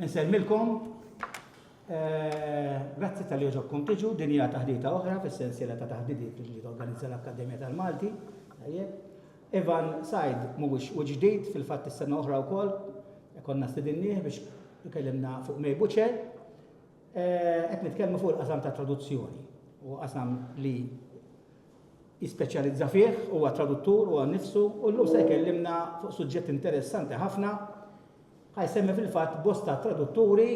Insellmilkom. Grazzi tal-li jogħġobkom tiġu, din hija taħdita oħra fis-sensiela ta' taħdidiet li torganizza l-Akkademja tal-Malti. Ivan Sajd mhuwiex u ġdid fil-fatt is-sena oħra wkoll konna stidinnieh biex ikellimna fuq May Butcher. Qed nitkellmu fuq il-qasam ta' traduzzjoni u qasam li jispeċjalizza fih huwa traduttur huwa nnifsu u llum se jkellimna fuq suġġett interessanti ħafna Ħa jsemmi fil-fatt bosta tradutturi,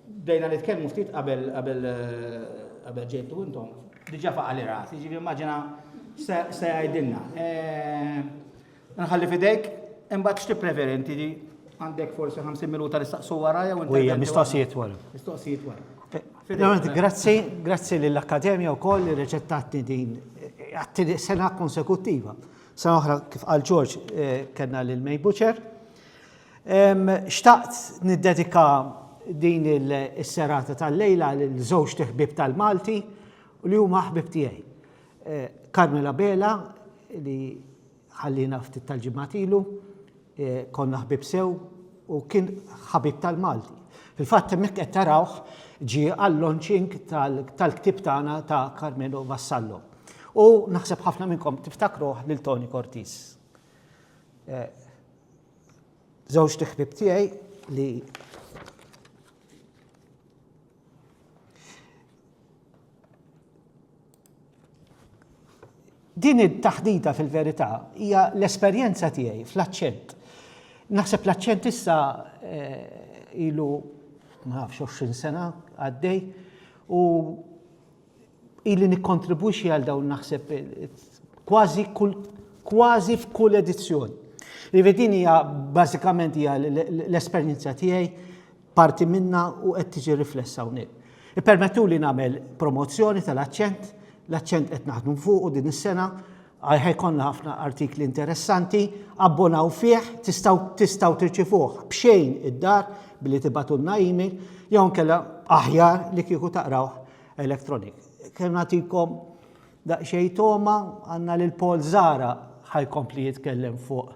bdejna nitkellmu ftit qabel qabel ġejtu intom, diġà faqa' li rasi, jiġifieri immaġina se jgħidilna. Eh, nħalli fidejk, imbagħad x'ti preferi inti għandek forsi 50 minuta li staqsu wara jew inti. Ujja, mistoqsijiet wara. Mistoqsijiet wara. Eh, grazzi, grazzi lill-Akkademja wkoll li reċettatni din għattini sena konsekuttiva. Sena oħra kif għal Ġorġ eh, kellna lil May Butcher, Xtaqt niddedika din is-serata tal-lejla lil żewġt iħbieb tal-Malti u li huma ħbieb tiegħi. Carmel Abela li ħalliena ftit tal-ġimgħat ilu, konna ħbieb sew u kien ħabib tal-Malti. Fil-fatt hemmhekk qed tarawh ġie għall-launching tal-ktieb tagħna ta' Carmelo Vassallo. U naħseb ħafna minnkom tiftakruh lil Tony Cortis. Żewġt iħbieb tiegħi li Din it-taħdita fil-verità hija l-esperjenza tiegħi fl-aċċent. Naħseb l-aċċent issa ilu ma nafx 20 sena għaddej u ili nikkontribwixxi għal dawn naħseb kważi kull kważi f'kull edizzjoni. Jiġifieri din hija bażikament hija l-esperjenza tiegħi parti minnha u qed tiġi riflessa hawnhekk. Ippermettuli nagħmel promozzjoni tal-aċċent, l-aċċent qed naħdmu fuqu din is-sena, Għalhekk ikollna ħafna artikli interessanti, abbonaw fih, tistgħu tistgħu tirċivuh b'xejn id-dar billi tibatulna email jew inkella aħjar li kieku taqrawh electronic. Kemm nagħtikom daqsxejn toma għandna lil Paul Zara ħajkompli jitkellem fuq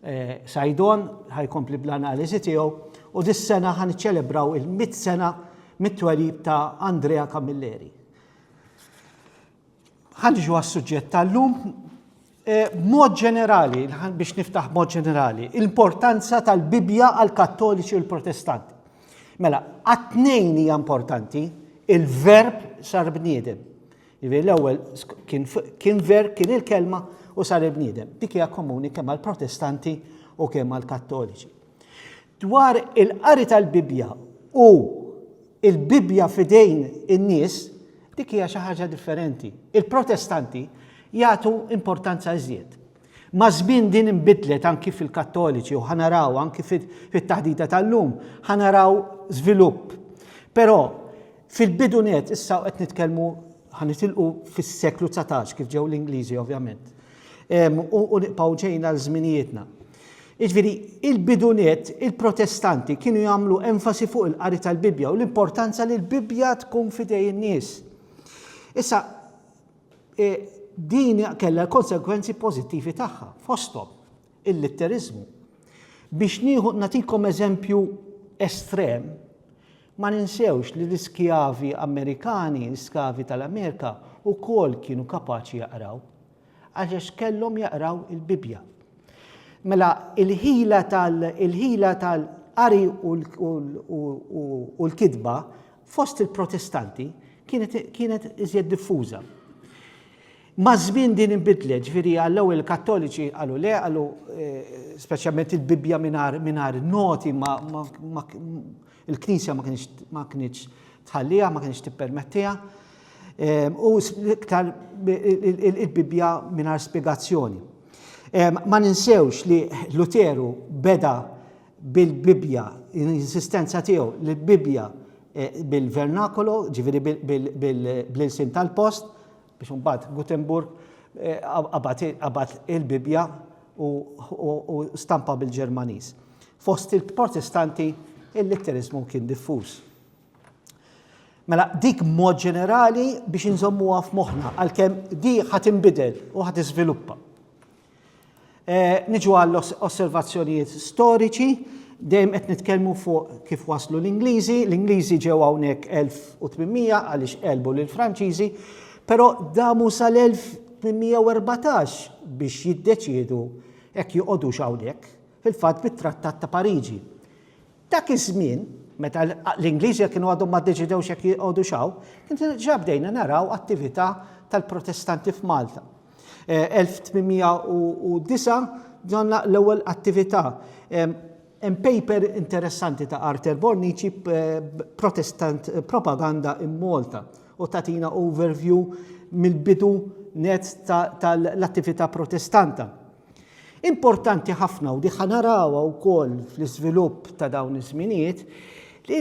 eh, Sajdon, ħajkompli bl-analiżi tiegħu u dis-sena ħan iċċelebraw il-mit sena mit-twelid ta' Andrea Camilleri. Ħanġu għas-suġġett tal-lum eh, b'mod ġenerali, biex niftaħ b'mod ġenerali, l-importanza tal-Bibja għal kattoliċi u l-protestanti. Mela, għat-tnejn hija importanti, il-verb sar bniedem. Jivi l-ewwel kien ver kien il-kelma u sar il-bniedem. Dik hija komuni kemm għall-Protestanti u kemm għall-Kattoliċi. Dwar il-qari tal-Bibbja u il-Bibbja fidejn in-nies, dik hija xi ħaġa differenti. Il-Protestanti jagħtu importanza iżjed. Ma' żmien din inbidlet anki fil-Kattoliċi u ħanaraw anki fit-taħdita tal-lum, ħanaraw żvilupp. Però fil-bidu net issa qed nitkellmu ħanitilqu fis-seklu 19 kif ġew l-Ingliżi ovvjament. U niqpaw ġejna l-żminijietna. Jiġifieri, il-bidu nett, il-Protestanti kienu jagħmlu enfasi fuq il-qari tal-Bibbja u l-importanza li l-Bibbja tkun f'idej in-nies. Issa, e, din kellha l-konsegwenzi pożittivi tagħha, fosthom il-litteriżmu. Biex nieħu natikom eżempju estrem, ma ninsewx li l-iskjavi Amerikani, l-iskjavi tal-Amerika, ukoll kienu kapaċi jaqraw. Għax kellhom jaqraw il-Bibbja. Mela il-ħila tal il-ħila tal-qari u l-kitba fost il-Protestanti kienet iżjed diffuża. Maż-żmien din inbidlet, ġifieri għall-ewwel il-Kattoliċi qalu le, qalu eh, speċjalment il-Bibbja mingħajr noti ma Il-Knisja ma kienx ma kienx tħalliha, ma kienx tippermettiha. Ehm, u iktar il-Bibbja mingħajr spjegazzjoni. Ehm, ma ninsewx li Luteru beda bil-Bibbja, l-insistenza tiegħu li l-Bibbja eh, bil-vernakolo, ġifieri bil-sin tal-post, biex imbagħad Gutenburg qabad il-Bibbja u stampa bil-Ġermaniż. Fost il-Protestanti il-litteriżmu kien diffuż. Mela, dik mod ġenerali biex inżommuha f'moħħna, għalkemm di ħat inbidel u ħat iżviluppa. Eh, niġu għall osservazzjonijiet storiċi, dejjem qed nitkellmu fuq kif waslu l-Ingliżi, l-Ingliżi ġew hawnhekk 1800 għaliex qelbu lil Franċiżi, però damu sal-1814 biex jiddeċiedu hekk joqogħdu hawnhekk, fil-fatt bit-Trattat ta' Pariġi. Dak iż-żmien, meta l-Ingliżi kienu għadhom ma ddeċidewx hekk joqogħdu xaw, kien ġabdejna naraw attività tal-Protestanti f'Malta. 1809 ġonna l-ewwel attività. Hemm paper interessanti ta' Arthur Bornici Protestant Propaganda in Malta u tatina overview mill-bidu net tal-attività Protestanta. Importanti ħafna u diħa narawha wkoll fl-iżvilupp ta' dawn iż-żminijiet li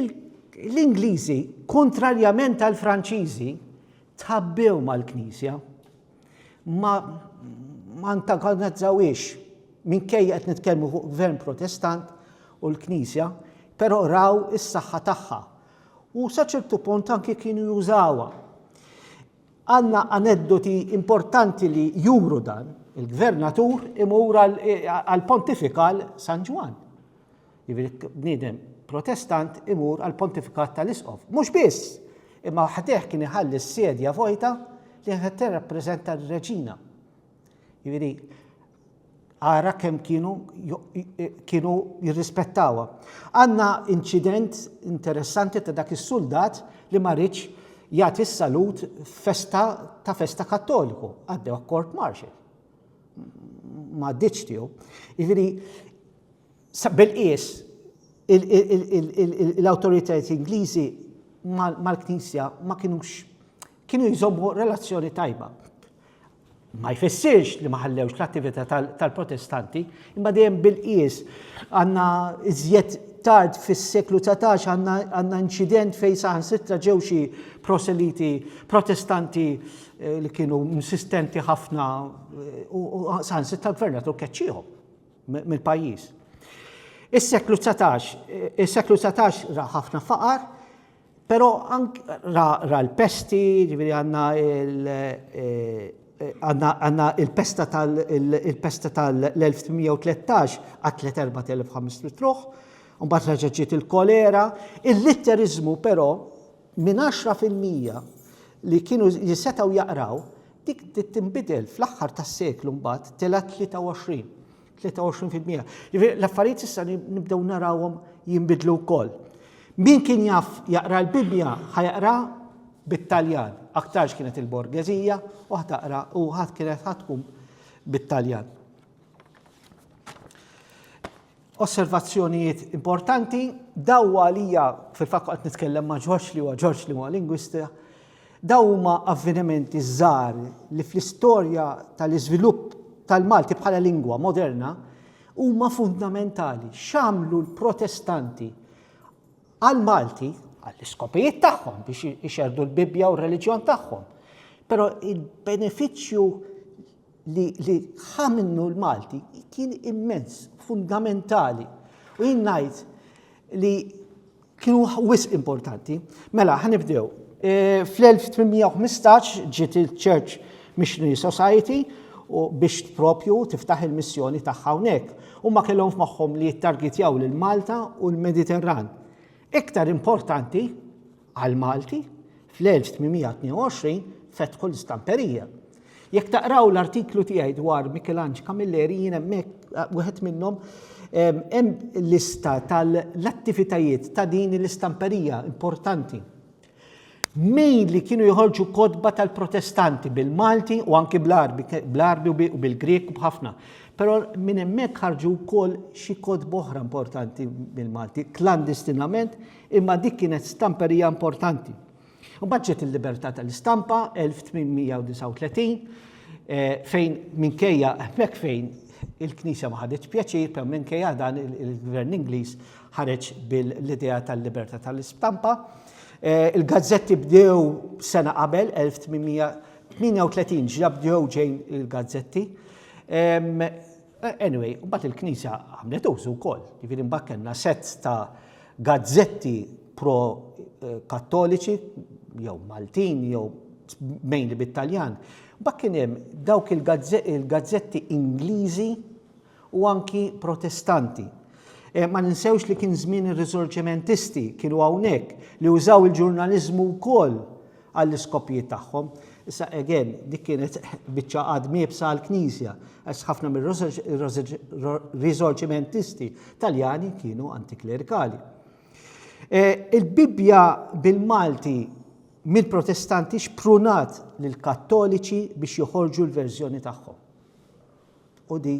l-Ingliżi, kontrarjament għall-Franċiżi, Tħabbew mal-Knisja. Ma ma antagonizzawiex minkejja qed nitkellmu fuq gvern protestant u l-Knisja, però raw is-saħħa tagħha. U sa ċertu punt anki kienu jużawha. Għandna aneddoti importanti li juru dan, il-gvernatur imur għal-pontifikal San Ġwan. Jiġifieri bniedem Protestant imur għall-pontifikat tal-isqof. Mhux biss, imma ħdejh kien iħalli s-sedja vojta li kienet tirrappreżenta r-reġina. Jiġifieri ara kemm kienu kienu jirrispettawha. Għandna inċident interessanti ta' dak is-suldat li ma ridx jagħti s-salut festa ta' festa kattoliku, għaddew court martial. Ma ditx tiegħu. Jiġifieri Bil-qies, l-awtoritajiet Ingliżi mal-Knisja ma kinux kienu jżommu relazzjoni tajba. Ma jfissirx li ma ħallewx l-attività tal-Protestanti, imma dejjem bil-qies għandna iżjed tard fis-seklu 19 għandna inċident fejn saħansitra ġew xi proseliti Protestanti eh, li kienu insistenti ħafna eh, u saħansitra l-gvernatur keċċihom. mill-pajjiż. Is-seklu dsatax, is-seklu dsatax ra ħafna faqar, però ank ra, ra l-pesti, ġifieri għandna il għandna il-pesta tal il-pesta tal-1813 qatlet 4500 ruħ, imbagħad reġa' ġiet il-kolera. Il-litteriżmu però minn għaxra fil-mija li kienu li setgħu jaqraw, dik bdiet tinbidel fl-aħħar tas-seklu mbagħad telgħet 23. 23%. Jiġifieri l-affarijiet issa nibdew narawhom jinbidlu wkoll. Min kien jaf jaqra l-Bibbja ħajaqra bit-Taljan, aktarx kienet il-borgeżija u ħtaqra u ħadd kienet ħatkun bit-Taljan. Osservazzjonijiet importanti, daw għalija, fil-fatt qed nitkellem ma' Ġorġ li huwa Ġorġ li huwa lingwista, daw huma avvenimenti żgħar li fl-istorja tal-iżvilupp tal-Malti bħala lingwa moderna huma fundamentali x'għamlu l-Protestanti għall-Malti għall-iskopijiet tagħhom biex ixerdu l-Bibbja u r-reliġjon tagħhom. Però il-benefiċċju li li ħa minnu l-Malti kien immens, fundamentali. U jien ngħid li kienu wisq importanti. Mela, ħanibdew. E, Fl-1815 ġiet il-Church Missionary Society u biex propju tiftaħ il-missjoni tagħha hawnhekk. Huma kellhom f'moħħhom li jittargitjaw lil Malta u l-Mediterran. Iktar importanti għall-Malti, fl-1822 fetħu l-istamperija. Jekk taqraw l-artiklu tiegħi dwar Michelange Camilleri jien hemmhekk wieħed minnhom hemm lista tal-attivitajiet ta' din l-istamperija importanti. Mejn li kienu joħorġu kotba tal-Protestanti bil-Malti u anki bl-Arbi, bl-Arbi u bil-Grek u b'ħafna. Però minn hemmhekk ħarġu wkoll xi kotba oħra importanti bil-Malti, klandestinament Imma dik kienet stamperija importanti. Mbagħad ġiet il-libertà tal-istampa 1839 eh, fejn minkejja hemmhekk fejn il-Knisja ma ħaditx pjaċir, per minkejja dan il-Gvern Ingliż ħareġ bil-idea tal-libertà tal-istampa. Eh, il-gazzetti bdew sena qabel 1838 ġabdew ġejn il-gazzetti. Anyway, mbagħad il-Knisja għamlet użu wkoll. Jiġifieri mbagħad kellna sett ta' gazzetti pro-Kattoliċi, jew Maltin, jew mainly bit-Taljan. Mbagħad kien hemm dawk il-gazzetti Ingliżi u anki Protestanti. Eh, ma ninsewx li kien żmien ir-riżorġimentisti kienu hawnhekk li użaw il-ġurnaliżmu wkoll għall-iskopjiet tagħhom. Issa, again, dik kienet biċċa għadm iebsa għall-Knisja, għax ħafna mir-Riżorċimentisti Taljani kienu antiklerikali. E, Il-Bibbja bil-Malti mill-Protestanti xprunat lill-Kattoliċi biex joħorġu l-verżjoni tagħhom. U di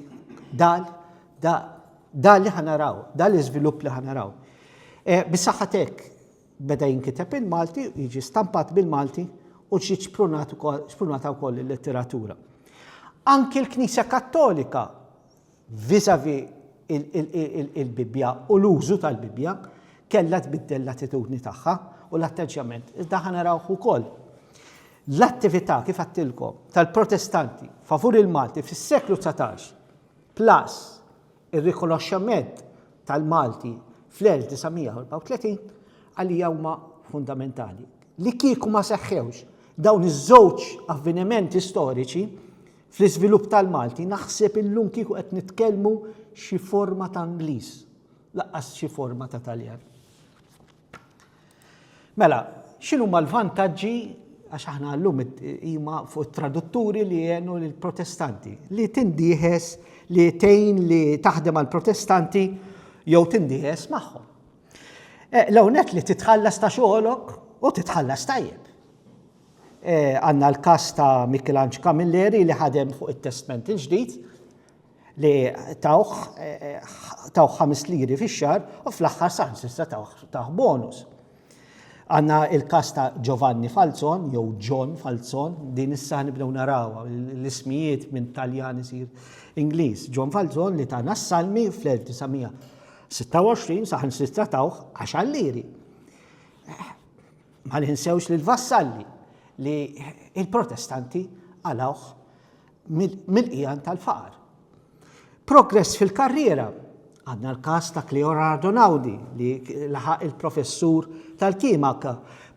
dal, dal li ħanaraw, dal iżvilupp li ħanaraw. E, Bisaħħatek, beda jinkiteb il-Malti, jiġi stampat bil-Malti u ġiet xprunata wkoll il-letteratura. Anki l-Knisja Kattolika vizavi il-Bibbja u l-użu tal-Bibbja kellha tbiddel l-attitudni tagħha u l-atteġġjament. Iżda ħa narawh ukoll. L-attività kif għattilkom tal-Protestanti favur il-Malti fis-seklu 19 plus Ir-rikonoxximent tal-Malti fl-1934 għalija huma fundamentali. Li kieku ma seħħewx dawn iż-żewġ avvenimenti storiċi fl-iżvilupp tal-Malti naħseb illum kieku qed nitkellmu xi forma ta' Ingliż, lanqas xi forma ta' Taljan. Mela, x'inhuma l-vantaġġi għax aħna llum huma fuq it-tradutturi li jgħenu lill-Protestanti li tindieħes li tgħin li taħdem għall protestanti jew tindieħes magħhom. Eh, L-ewnet li titħallas ta' xogħolok u titħallas tajjeb. Eh, għanna l-kas ta' Michelangelo Camilleri li ħadem fuq il-testment il-ġdid, li tawh tawh ħames liri fix-xahar u fl-aħħar saħansitra tawh bonus. Għanna il-kas ta' Giovanni Falzon, jew John Falzon, din issa nibdew narawa, l-ismijiet minn Taljan isir Ingliż. John Falzon li ta' nassalmi fl-1926 saħan sitra tawħ għax għalliri. Ma ninsewx li l-vassalli li il-protestanti għalawħ mill-qiegħan tal-faqar. Progress fil-karriera għandna l-każ ta' Cleo Ardonaudi li laħaq il-professur tal-kimaka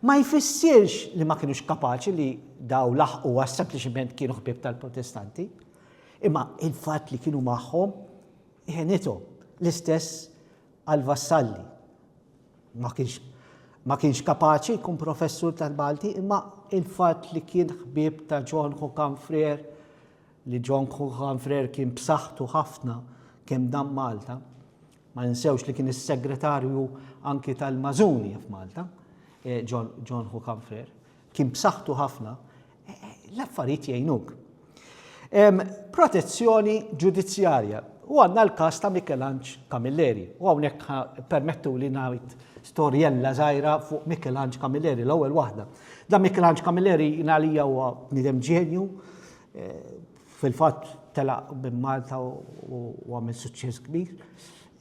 ma jfissirx li ma kienux kapaċi li daw laħqu għas sempliċiment kienu ħbib tal-protestanti. Imma il-fatt li kienu magħhom jenithom l-istess għal-vassalli. Ma kienx ma kienx kapaċi jkun professur tal-Malti imma il-fatt li kien ħbieb ta' John Hukan Frer li John Hukan Frer kien b'saħħtu ħafna kemm dan Malta. Ma ninsewx li kien is-segretarju anki tal-Mażuni f'Malta, eh, John Hukan Frer. Kien b'saħħtu ħafna L-affarijiet jgħinuk. Protezzjoni ġudizzjarja. U għandna l-każ ta' Mikelanġ Camilleri. U hawnhekk permettu li ngħid storjella żgħira fuq Mikelanġ Camilleri, l-ewwel waħda. Da Mikelanġ Camilleri jingħalija huwa nidem ġenju, eh, fil-fatt telaq minn Malta u għamil suċċess kbir.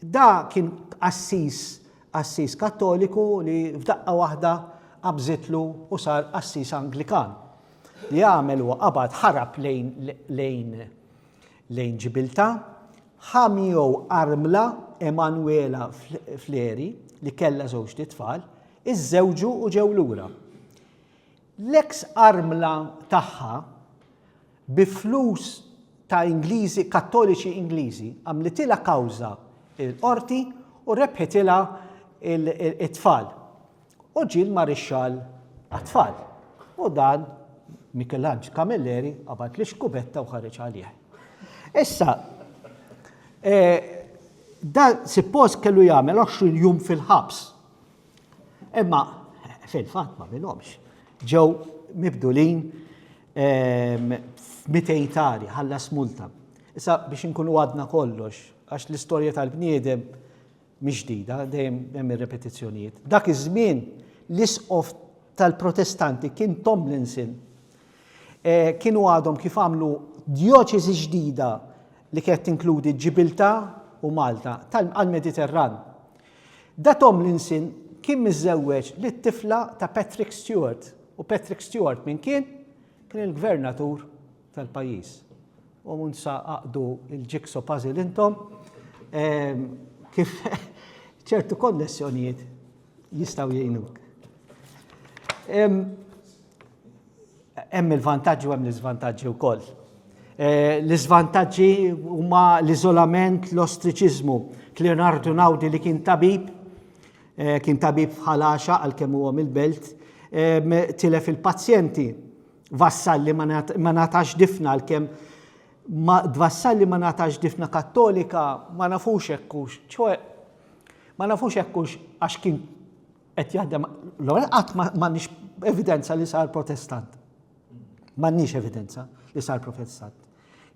Da kien assis Qassis Kattoliku li f'daqqa waħda qabżitlu u sar qassis Anglikan. Li għamel huwa qabad ħarab lejn lejn lejn Ġibilta, ħa miegħu armla Emanuela Fleri li kellha żewġt itfal, iżżewġu u ġew lura. L-eks armla tagħha, bi flus ta' Ingliżi, Kattoliċi Ingliżi, għamlitilha kawża l-Qorti u rebħitilha t-tfal. U ġie l-Marixxall għat-tfal. U dan Mikelanġ Camilleri qabad l-ixkubetta u ħareġ għalih. Issa, dan suppost kellu jagħmel 20 jum fil-ħabs. Imma fil-fatt ma minhomx. Ġew mibdulin ehm, mitejtari ħallas multa. Issa biex inkunu għadna kollox, għax l-istorja tal-bniedem mhix ġdida, dejjem hemm ir-repetizzjonijiet. Dak iż-żmien l-isqof tal-Protestanti kien Tomlinson. Eh, kienu għadhom kif għamlu djoċeżi ġdida li kienet tinkludi Ġibilta u Malta tal-Mediterran. Da Tomlinson kien miżżewweġ lit-tifla ta' Patrick Stewart u Patrick Stewart min kien? Kien il-gvernatur tal-pajjiż. U mhux sa aqdu l-jigsaw puzzle intom ehm, kif ċertu konnessjonijiet jistgħu jgħinuk. Ehm, Hemm il-vantaġġi u hemm l-iżvantaġġi wkoll. L-iżvantaġġi huma l-iżolament, l-ostriċiżmu. Cleonardo Naudi li kien tabib, kien tabib ħalaxa għalkemm huwa mill-belt, tilef il-pazjenti. Vassalli ma natax difna għalkemm ma Vassalli ma natax difna kattolika ma nafux hekk hux, ċoe ma nafux hekk hux għax kien qed jaħdem l-ewwel qatt m'għandniex evidenza li sar protestant. M'għandniex evidenza li sar protestant.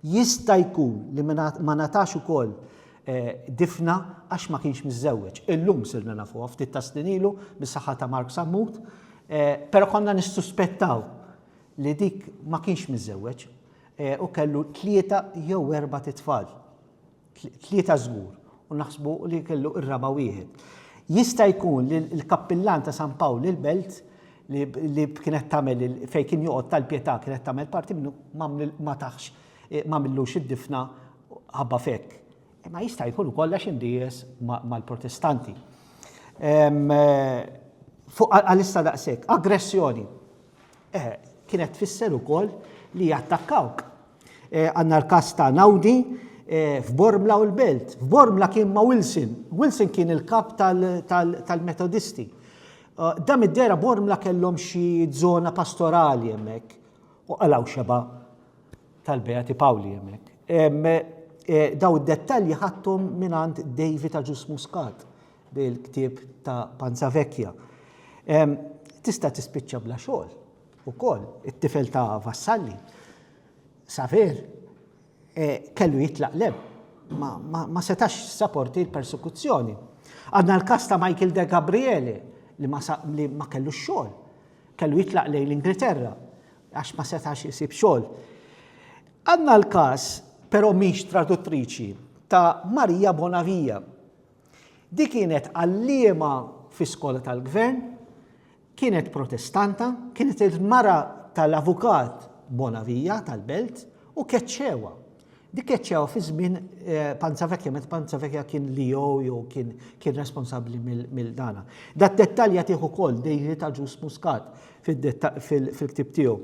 Jista' jkun li ma natax ukoll eh, difna għax ma kienx miżżewweġ. Illum sirna nafu ftit ta' snin ilu mis-saħħa ta' Mark Sammut, eh, però konna nissuspettaw li dik ma kienx miżżewweġ eh, u kellu tlieta jew erba' titfal. tlieta żgur, u naħsbu li kellu r-raba' wieħed. Jista' jkun li l-kappillan ta' San Pawl il-Belt li kienet tagħmel fejn kien joqgħod tal-Pietà kienet tagħmel parti minnu ma taħx eh, ma millux id-difna ħabba fekk. Eh, ma jista' jkun ukoll għax indijes mal-protestanti. Eh, fuq għalissa daqshekk, aggressjoni. Eh, kienet tfisser ukoll li jattakkawk. Eh, għanna l-kas ta' Naudi eh, f'Bormla u l-Belt. F'Bormla kien ma' Wilson. Wilson kien il-kap tal-Metodisti. Eh, dam id-dera Bormla kellhom xi zona pastorali hemmhekk u għalaw xeba tal-Beati Pawli hemmhekk. Daw id-dettalji ħattum minant David Aġus Muscat bil-ktib ta' Panza Vecchia. Tista' tispiċċa bla xogħol Ukoll, it-tifel ta' Vassalli, Saver, kellu jitlaq l-hemm. Ma setax jissaporti l-persekuzzjoni. Għandna l-każ ta' Michael De Gabriele li ma kellux xogħol. Kellu jitlaq lejn l-Ingilterra għax ma setax isib xogħol. Għandna l-każ, però mhix traduttriċi, ta' Maria Bonavia. Di kienet għalliema fi skola tal-gvern, Kienet Protestanta, kienet il-mara tal-Avukat Bonavija tal-Belt u keċċewha. Dik keċċewha fi żmien eh, Panzavekja, meta Panzavekja kien Leo jew kien kien responsabbli mill-dana. Dat dettalja tieħu wkoll dejli ta' ġus muskat fil-ktib tiegħu.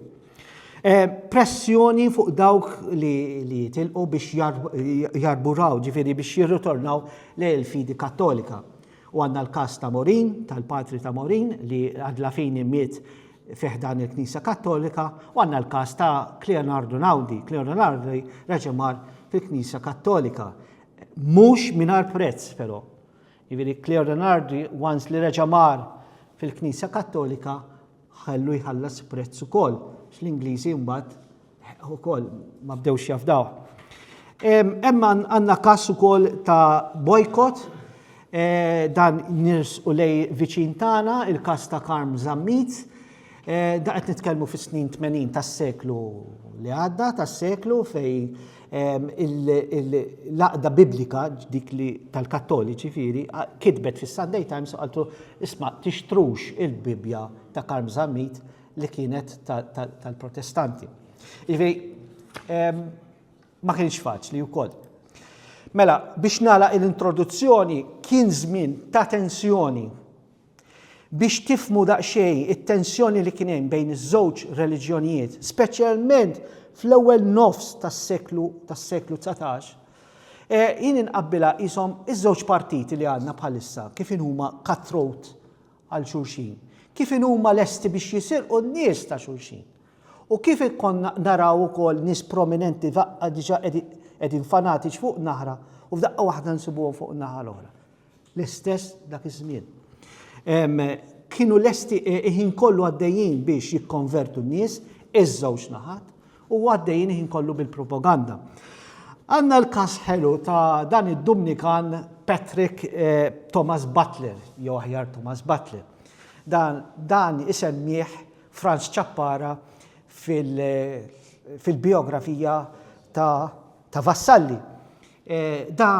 Eh, pressjoni fuq dawk li jitilqu biex jarburaw, ġifiri biex jirritornaw l-fidi kattolika. U għandna l-każ ta' Morin, tal-patri ta' Morin, li Adlafini miet fi ħdan il-Knisja Kattolika, u għandna l-każ ta' Cleonardo Naudi. Cleonardo Naudi reġa' mar fil-Knisja Kattolika. Mhux mingħajr prezz però. Jiġifieri Cleonardo Naudi once li reġa' mar fil-Knisja Kattolika Ħallu jħallas prezz ukoll, x'l-Ingliżi mbagħad ukoll ma bdewx jafdaw. Hemm għandna każ ukoll ta' bojkot eh, dan nirs u lej viċin tagħna il-każ ta' Karm Zammit. Eh, da qed nitkellmu fis-snin 80 tas-seklu li għadda, tas-seklu fej l-għaqda Biblika, dik li tal-Kattoliċi ġifieri, kitbet fis-Sunday Times u qaltlu, isma' tixtrux il-Bibbja ta' Karm Zammit li kienet tal-Protestanti. Ġifieri ma kienx faċli wkoll. Mela, biex nagħlaq l-introduzzjoni kien żmien ta' tensjoni Biex tifhmu daqsxejn it-tensjoni li kien hemm bejn iż-żewġ reliġjonijiet, speċjalment fl-ewwel nofs tas-seklu tas-seklu dsatax, jien inqabbilha qishom iż-żewġ partiti li għandna bħalissa, kif inhuma cut-throat għal xulxin, kif inhuma lesti biex jisirqu n-nies ta' xulxin, u kif konna naraw ukoll nies prominenti f'daqqa diġà qegħdin fanatiċi fuq naħra u f'daqqa waħda nsibuhom fuq in-naħa l-oħra. l-istess dak iż-żmien. Kienu lesti e, iħin kollu għaddejjin biex jikkonvertu n-nies, iż-żewġ naħat, u għaddejjin iħin kollu bil-propaganda. Għanna l-kas ħelu ta' dan id-Dumnikan Patrick eh, Thomas Butler, jew aħjar Thomas Butler. Dan, dan isemmieħ Franz Ċappara fil-biografija fil ta' ta' Vassalli. Da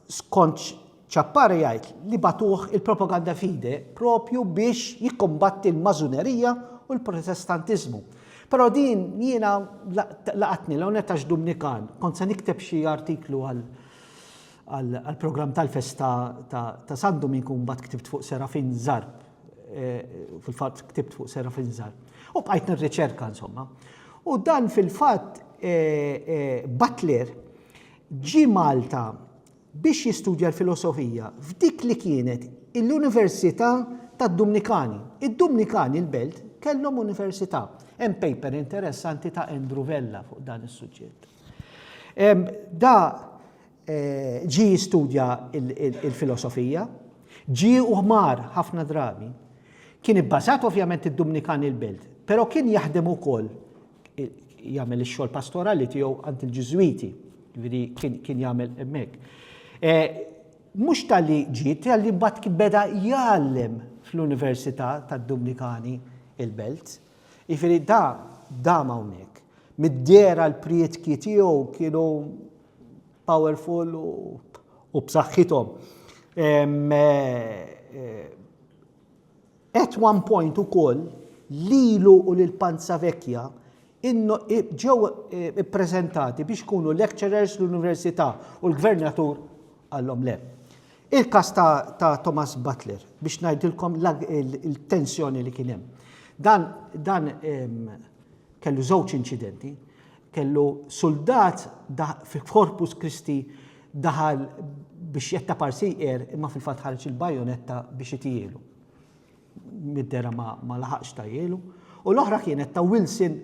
skont Ciappare jgħid li bagħtuh il-Propaganda Fide propju biex jikkumbatti l-Mażunerija u l-Protestantiżmu. Però din jiena laqatni l-hawn qed għax Dumnikan, kont se nikteb xi artiklu għal għall-programm tal-festa ta' San Duminku mbagħad ktibt fuq Serafin Zarb. fil-fatt ktibt fuq serra fil-żar. U bqajt nirriċerka insomma. U dan fil-fatt Butler ġi Malta biex jistudja l-filosofija f'dik li kienet l-Università tad-Dumnikani. Id-Dumnikani l-belt kellhom università. Hemm paper interessanti ta' Andrew Vella fuq dan is-suġġett. Da Ġie jistudja l-filosofija. Ġie u ħmar ħafna drabi. Kien ibbażat ovvjament id-Dumnikan il-Belt, però kien jaħdem ukoll jagħmel ix-xogħol pastorali tiegħu għand il-Ġiżwiti, jiġifieri kien jagħmel hemmhekk. Mhux talli ġie, talli mbagħad beda jgħallem fl-Università tad-Dumnikani il-Belt. Jiġifieri da dam hawnhekk. Mid-dehra l-prietki tiegħu kienu powerful u b'saħħithom. At one point ukoll lilu u lil Panza Vecchia ġew ippreżentati biex ikunu lecturers l-Università u l-Gvernatur qallhom le. Il-każ ta' ta' Thomas Butler biex ngħidilkom il-tensjoni li kien hemm. Dan dan ehm, kellu żewġ inċidenti, kellu suldat fil-Corpus Christi daħal biex jetta parsiqer imma fil-fatt ħareġ il-bajonetta biex itijielu. mid-dehra ma laħaqx tgħajjielu, u l-oħra kienet ta' Wilson,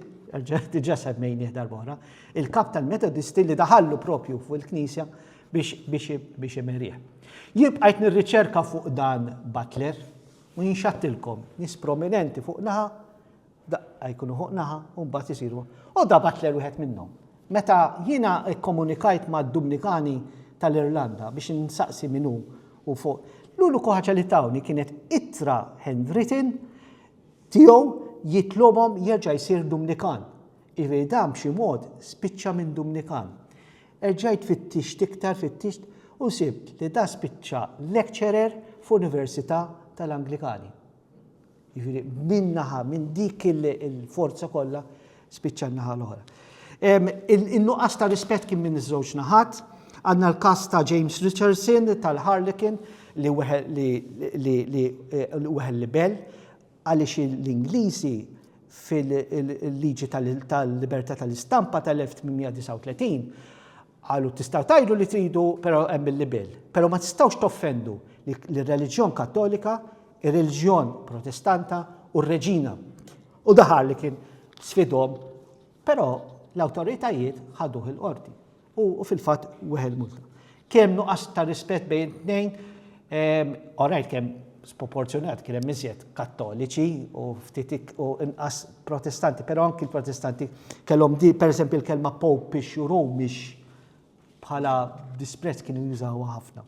diġà semmejnieh darba oħra, il-kap tal-Metodisti li daħallu propju fuq il-knisja biex imerih. Jien bqajt nirriċerka fuq dan Butler u jinxattilkom nies prominenti fuq naħa Daqqa jkunu fuq naħa u mbagħad isiru. U da Butler wieħed minnhom. Meta jiena kkomunikajt mad-Dumnikani tal-Irlanda biex insaqsi min hu u fuq, l-uniku ħaġa li tawni kienet ittra handwritten tiegħu jitlobhom jerġa' jsir Dumnikan. Jiġifieri dan b'xi mod spiċċa minn Dumnikan. Erġajt fittixt iktar, fittixt u sibt li da spiċċa lecturer f'università tal-Anglikani. Jiġifieri minn naħa, minn dik il-forza kollha spiċċa n-naħa l-oħra. In-nuqqas ta' rispett kien minn iż-żewġ naħat, għandna l-każ ta' James Richardson tal-Harlequin li weħel libell għaliex l-Ingliżi fil-liġi tal-libertà tal-istampa tal-1839 Qalu tistgħu tgħidu li tridu però hemm il-libell. Però ma tistgħux toffendu lir-reliġjon Kattolika, ir-reliġjon Protestanta u r-Reġina. U daħal li kien sfidhom, però l-awtoritajiet ħaduh il-qorti. U fil-fatt weħel multa. Kemm nuqqas ta' rispett bejn tnejn Orajt kemm sproporzjonat kien hemm iżjed Kattoliċi u ftit u inqas Protestanti, però anki l-Protestanti kellhom di, pereżempju l-kelma Popish u Romish bħala disprezz kienu jużawha ħafna.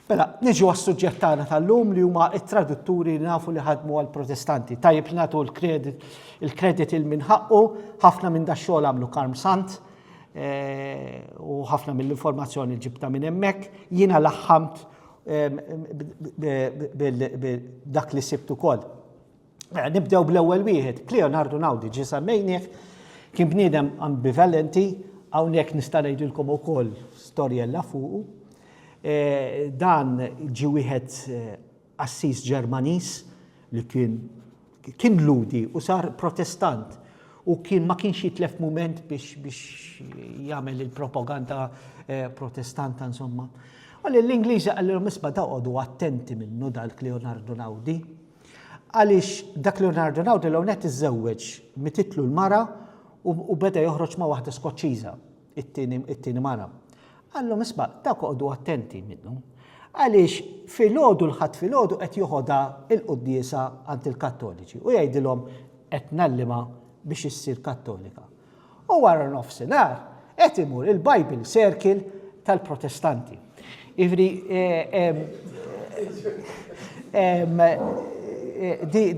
Mela, niġu għas-suġġett tagħna tal-lum li huma t-tradutturi li nafu li ħadmu għall-Protestanti. Tajjeb li nagħtu l-kredit il-kredit il minħaqqu ħafna minn dax-xogħol għamlu Karm Sant, u ħafna mill-informazzjoni ġibta minn hemmhekk, jiena laħħamt dak li sibt ukoll. Mela, nibdew bl-ewwel wieħed, Leonardo Naudi ġi semmejnieh, kien bniedem ambivalenti, hawnhekk nista' ngħidilkom ukoll storjella fuqu. E, dan ġi wieħed e, qassis Ġermaniż li kien kien Lhudi u sar Protestant u kien ma kienx jitlef mument biex biex jagħmel il-propaganda eh, protestanta insomma. Għalli l-Ingliżi għallilhom isma' daqgħodu attenti minnu dak Leonardo Naudi. Għaliex dak Leonardo Naudi l-għonet iżżewweġ mititlu l-mara u beda joħroġ ma' waħda Skoċċiża. It-tieni mara qallhom isma' dawk oqogħdu attenti minnu, għaliex filgħodu l-Ħadd filgħodu qed joħodha l-quddiesa għand il-Kattoliċi u jgħidilhom qed ngħallimha biex issir Kattolika. U wara nofsinhar qed imur il-Bible Circle tal-Protestanti. Jiġifieri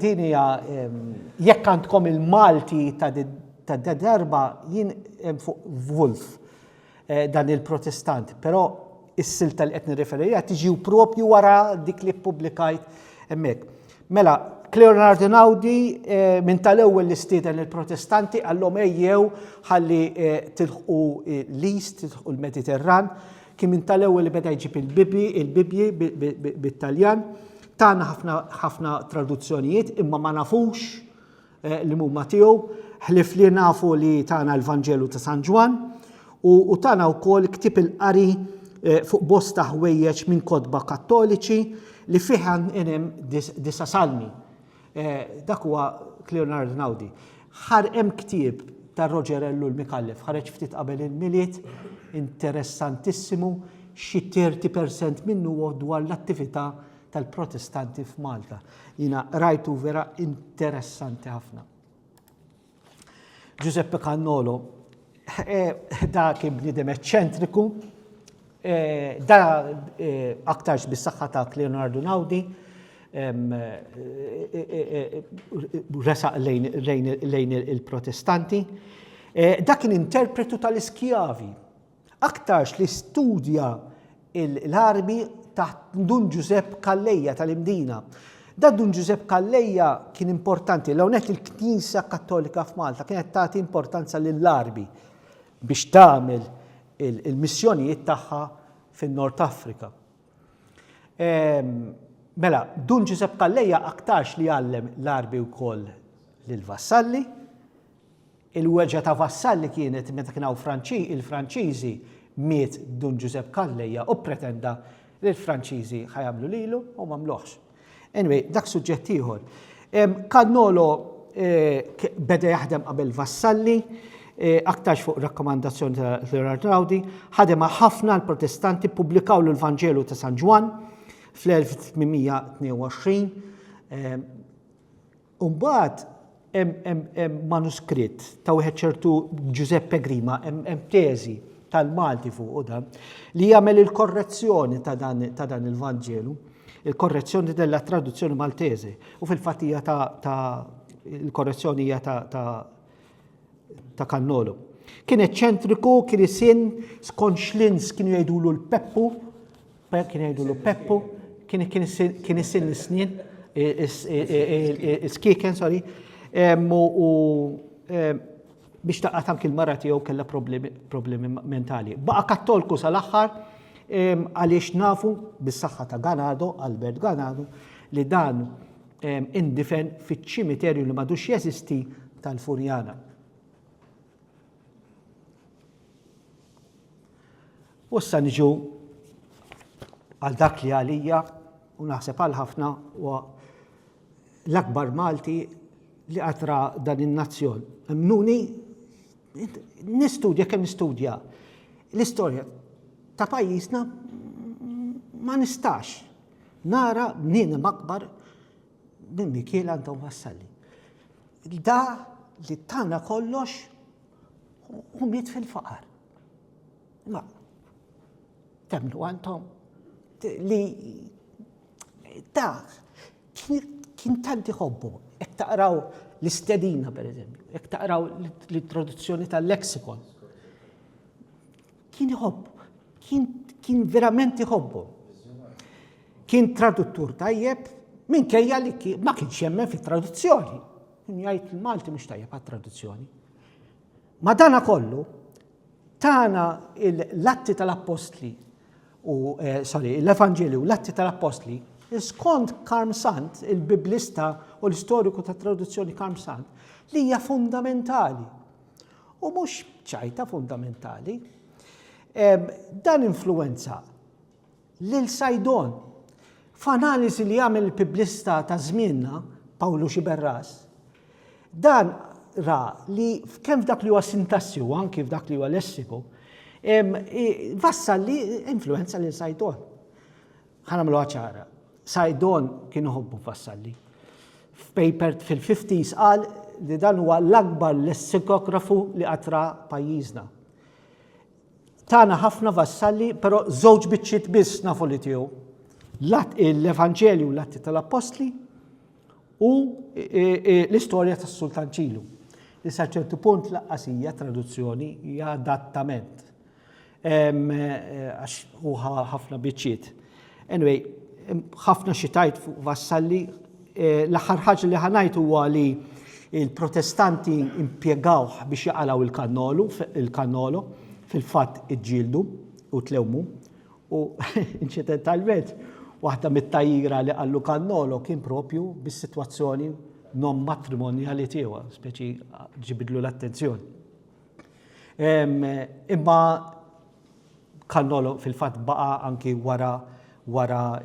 din hija jekk għandkom il-Malti ta' Ta' da darba jien fuq Wolf dan il-Protestant, però is-silta li qed nirreferi lejha tiġi propju wara dik li ppubblikajt hemmhekk. Mela, Leonard Einaudi eh, minn tal-ewwel li stieden il-Protestanti għallhom ejjew ħalli eh, tilħqu eh, l-East, tilħqu l-Mediterran, kien minn tal-ewwel li beda jġib il-bibi, il-bibji bit-Taljan, tagħna ħafna traduzzjonijiet imma ma nafux Eh, li mumma tiegħu, ħlif li nafu li tana l-Vanġelu ta' San Ġwan u tana wkoll ktib il-qari eh, fuq bosta ħwejjeġ minn kotba kattoliċi li fih hemm disa salmi. Eh, dak huwa Leonard Naudi. Ħar hemm ktieb ta' Roger Ellu l-Mikallef, ħareġ ftit qabel il-miliet, interessantissimu, xi 30% minnu dwar l-attività tal-Protestanti f'Malta. Jina rajtu vera interessanti ħafna. Giuseppe Cannolo, eh, da kien bnidem eċċentriku, eh, da eh, aktarx bis-saħħa ta' Leonardo Naudi, resaq lejn il-protestanti. Dak kien interpretu tal-iskjavi Aktarx li studja l-armi taħt Dun Ġużepp Calleja tal-Imdina. Da Dun Ġużepp Calleja kien importanti, l hawnhekk il-Knisa Kattolika f'Malta kienet tagħti importanza lill-armi biex tagħmel il-missjonijiet tagħha fin-Nord Afrika. Ehm, mela, Dun Ġużepp Calleja aktarx li għallem l-armi wkoll lill-vassalli, Il-weġgħa ta' Vassalli kienet meta kien hawn il-Franċiżi, miet Dun Ġużepp Calleja u ppretenda li l-Franċiżi ħa jagħmlu lilu u m'għamluhx. Anyway, dak suġġett ieħor. Cannolo beda jaħdem qabel Vassalli, aktarx fuq rakkomandazzjoni ta' Gerard Raudi, ħadem ħafna l-Protestanti ppubblikawlu l-Vanġelu ta' San Ġwann fl-1822. U mbagħad hemm manuskritt ta' wieħed ċertu Ġużeppe Grima, hemm teżi tal-Malti fuqu dan, li jagħmel il-korrezzjoni ta' dan il-Vanġelu, il-korrezzjoni della traduzzjoni Maltese, u fil-fatt hija ta' il-korrezzjoni hija ta' ta' Kannolo. Kien eċċentriku, kien isin, skont xlins kienu jgħidulu l-Peppu, Pe, kien jgħidulu Peppu, kien kien isil- kien isil is-snien, i- is- i- i- i- is-skieken, sorry, em, u u, em, biex taqgħad anki l-mara tiegħu kellha problemi problemi mentali. Baqa' Kattolku sal-aħħar em, għaliex nafu bis-saħħa ta' Ganado, Albert Ganado, li dan em, indifen fiċ-ċimiterju li m'għadux jeżisti tal-Furjana. U issa niġu għal dak li għalija u naħseb għal ħafna u l-akbar Malti li qatra dan in-nazzjon. Mnuni, nistudja kemm nistudja l-istorja ta' pajjiżna ma nistax nara bniedem akbar Minn Mikiel għandhom wassalli. Da li tana kollox u miet fil-faqar. Ma, temnu għantom li da kien tanti ħobbu, ek taqraw l-istedina per eżempju, ek taqraw l-introduzzjoni tal-leksikon. Kien iħobb, kien, kien verament iħobbu. Kien traduttur tajjeb, minkejja li ma kienx jemmen fit-traduzzjoni. Kien jgħid il-Malti mhux tajjeb għat-traduzzjoni. Ma dana kollu, tana l-atti tal-appostli, u, eh, sorry, l-Evanġelju, l-atti tal-appostli, skont Karm Sant, il-biblista u l-istoriku ta' traduzzjoni Karm Sant, li hija fundamentali u mhux ċajta fundamentali. Dan influwenza lil Sajdon. F'analiżi li għamel il-piblista ta' żmienna, Pawlu Xiberras, dan ra li kemm f'dak li huwa sintassi u anki f'dak li huwa lessiku, vassal li influenza lil Sajdon. Ħa nagħmluha ċara. Saidon kien iħobbu Vassalli. F'paper fil-50s qal li dan huwa l-akbar lessikografu li qatra pajjiżna. Tana ħafna Vassalli, però żewġ biċċiet biss nafu li tiegħu. Lat l-Evanġelju u l-Atti tal-Appostli u e, e, e, l-istorja tas-Sultan Ċilu. Li sa ċertu punt laqqasija traduzzjoni hija adattament. Għax hu ħafna biċċiet. Anyway, ħafna xi tajt fuq Vassalli. Eh, l-aħħar ħaġa li ħanajt huwa li il-protestanti impiegawh biex jaqalaw il-kannolu, il-kannolo, fil-fatt iġġieldu u tlewmu. U inċidentalment, waħda mit-tajjira li għallu kannolo kien propju bis-sitwazzjoni non matrimonjali tiegħu, speċi ġibidlu l-attenzjoni. Imma Cannolo fil-fatt baqa' anki wara wara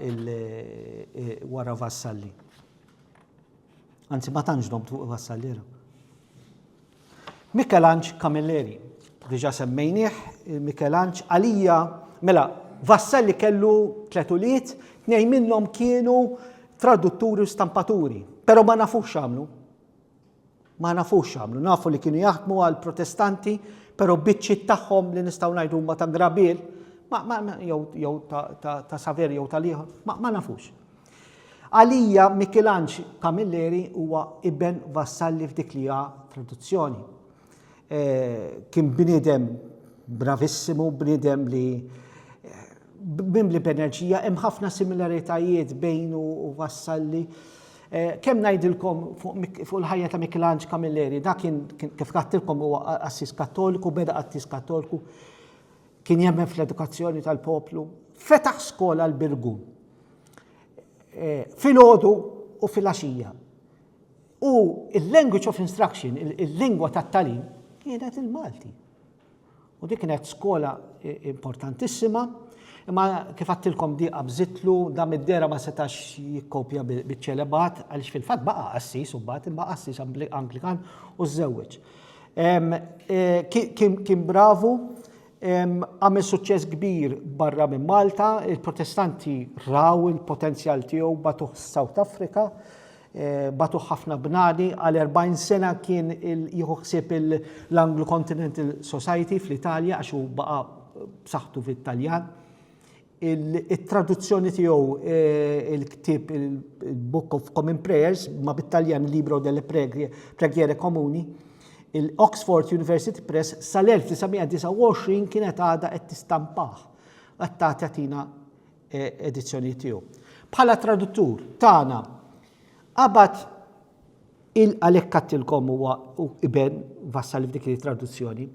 wara Vassalli. Anzi ma tantx domt fuq Vassalli. Mikelanġ Camilleri, diġà semmejnieh, Mikelanġ għalija, mela Vassalli kellu tliet ulied, tnejn minnhom kienu tradutturi u stampaturi, però ma nafux x'għamlu. Ma nafux x'għamlu, nafu li kienu jaħdmu għal protestanti, pero biċċiet tagħhom li nistgħu ngħidu huma ta' grabil, jew ta' saver jew tal-ieħor, ma nafux. Għalija Mikilanġ Camilleri huwa iben Vassalli f'dik li ha traduzzjoni. Kien bniedem bravissimu, bniedem li mimli b'enerġija, hemm ħafna similaritajiet bejnu u Vassalli. Kemm ngħidilkom fuq il-ħajja ta' Mikelanġ Camilleri, dak kien kif kattilkom huwa qassis Kattoliku, beda qassis Kattoliku, kien jemmen fl-edukazzjoni tal-poplu. Fetaħ skola l-Birgu. Filgħodu u filgħaxija. U l-language of instruction, il-lingwa tat-tagħlim, kienet il-Malti. U dik kienet skola importantissima, imma kif għattilkom di qabżitlu, da mid-dera ma setax jikkopja biċ-ċelebat, għaliex fil-fatt baqa' qassis u mbagħad imma qassis Anglikan u żewweġ. E, kien bravu, għamel suċċess kbir barra minn Malta, il-protestanti raw il-potenzjal tiegħu batuħ South Africa, bagħtuh ħafna bnadi, għal 40 sena kien jieħu ħsieb l-Anglo Continental Society fl-Italja għax hu baqa' b'saħħtu fit-Taljan. It-traduzzjoni tiegħu eh, il-ktieb il-Book of Common Prayers ma bit-Taljan Libro delle Preghiere Comuni, il-Oxford University Press sal-1929 kienet għada qed tistampah. Għatta tatina edizzjonijiet tiegħu. Bħala traduttur tagħna qabad il-għalek kattilkom huwa iben Vassalli f'dik li traduzzjoni,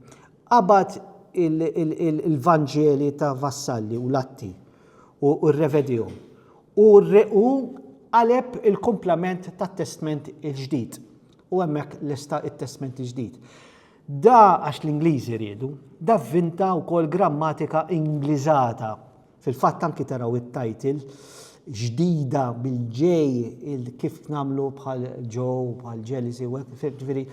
qabad il-Vanġeli ta' Vassalli u Latti u r-revedijom u għaleb il-komplement ta' testment il-ġdid u hemmhekk lesta it-testment il-ġdid. Da għax l-Ingliżi riedu, da vinta wkoll grammatika Ingliżata Fil-fatt anki taraw it-title ġdida bil-ġej kif nagħmlu bħal Joe, bħal Jealousy, u hekk fil ġifieri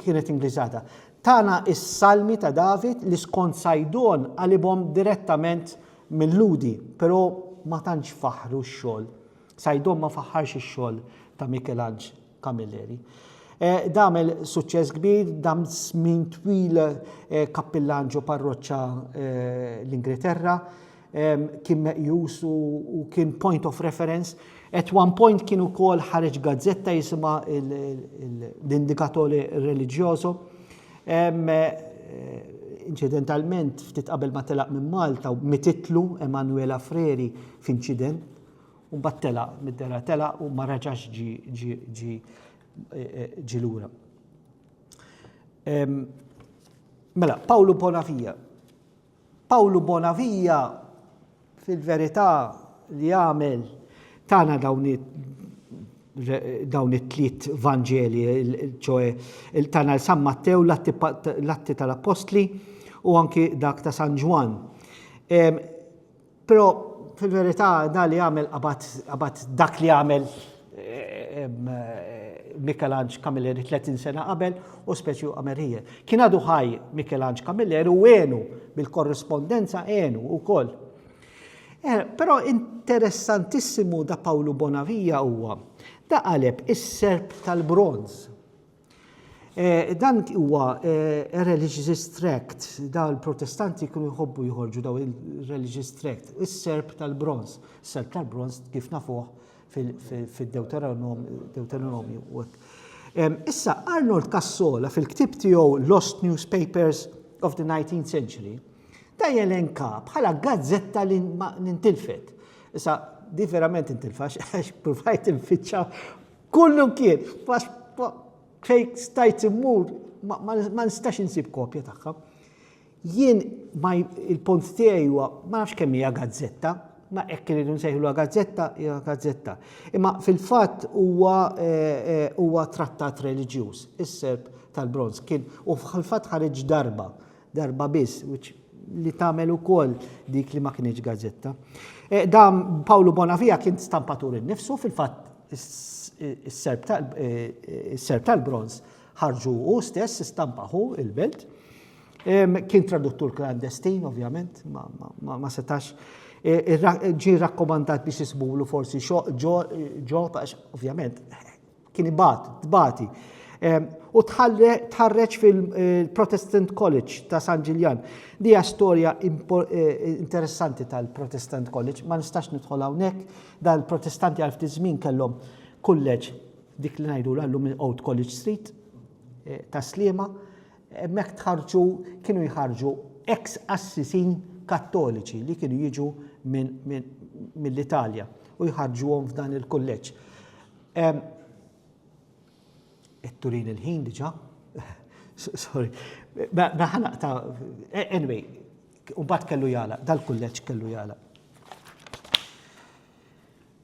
kienet Ingliżata. Tana is-Salmi ta' David li skont Saidon qalibhom direttament minn Lhudi, però ma tantx faħħru x-xogħol. Saidon ma faħħarx ix-xogħol ta' Mikelanġ. Camilleri. Damel suċċess kbir, dam żmien twil kappillan ġo parroċċa l-Ingilterra, kien meqjus u kien point of reference. At one point kien ukoll ħareġ gazzetta jisimha l-Indikatore Religioso. Inċidentalment, ftit qabel ma telaq minn Malta, mititlu Emanuela Freri f'inċident U mbagħad telaq, mid-dera telaq u ma raġax ġi ġi lura. Mela, Pawlu Bonavija. Pawlu Bonavija fil-verità li għamel tana dawn dawn it-tliet Vanġeli, ċoe il-tana l-San Mattew, l-atti tal-Apostli u anki dak ta' San Ġwan. Però fil-verità da li għamel qabad dak li għamel Mikelanġ Camilleri 30 sena qabel u speċi u għamel hija. Kien għadu ħaj Mikelanġ Camilleri u għenu bil-korrispondenza għenu u koll. Eh, Pero interessantissimu da Pawlu Bonavija huwa da qaleb is-serp tal-bronz. Eh, dan huwa eh, a religious tract, da l-protestanti kienu jħobbu jħorġu daw il-religious tract, is-serb tal-bronz, serb tal-bronz kif nafuh fil-Deuteronomju. Issa, Arnold Cassola fil-ktib tiegħu Lost Newspapers of the 19th Century, ta' jelenka bħala gazzetta li nintilfet. Issa, di verament intilfax, għax provajt il-fitxa Kullu kif, fej stajt immur, ma nistax insib kopja tagħha. Jien il-punt tiegħi huwa ma nafx kemm hija gazzetta, ma hekk irridu nsejħluha gazzetta, hija gazzetta. Imma fil-fatt huwa eh, huwa trattat reliġjuż, is-serp tal-bronz kien u fil-fatt ħareġ darba darba biss, li tagħmel ukoll dik li ma kinitx gazzetta. Eh, dam Pawlu Bonavija kien stampatur innifsu fil-fatt is-serb eh, tal-bronz ħarġu u stess istampaħu il-belt. Kien traduttur klandestin, ovvjament, ma setax eh, ġi rakkomandat biex jisbulu forsi ġo, ovvjament, kien ibat, tbati. U tħarreġ fil-Protestant College ta' San Ġiljan. Dija storja eh, interessanti tal-Protestant College, ma nistax nidħol hawnhekk, dan il-Protestanti għal ftit żmien kellhom kulleġ dik li ngħidu l-għallum minn Old College Street eh, ta' Sliema, hemmhekk tħarġu kienu jħarġu ex assisin kattoliċi li kienu jiġu mill-Italja u jħarġuhom f'dan il-kulleġġ. Qed turini l-ħin diġà. Sorry. Ma mela, ħanaq ta' anyway, u mbagħad kellu jala, dal-kulleġġ kellu jala.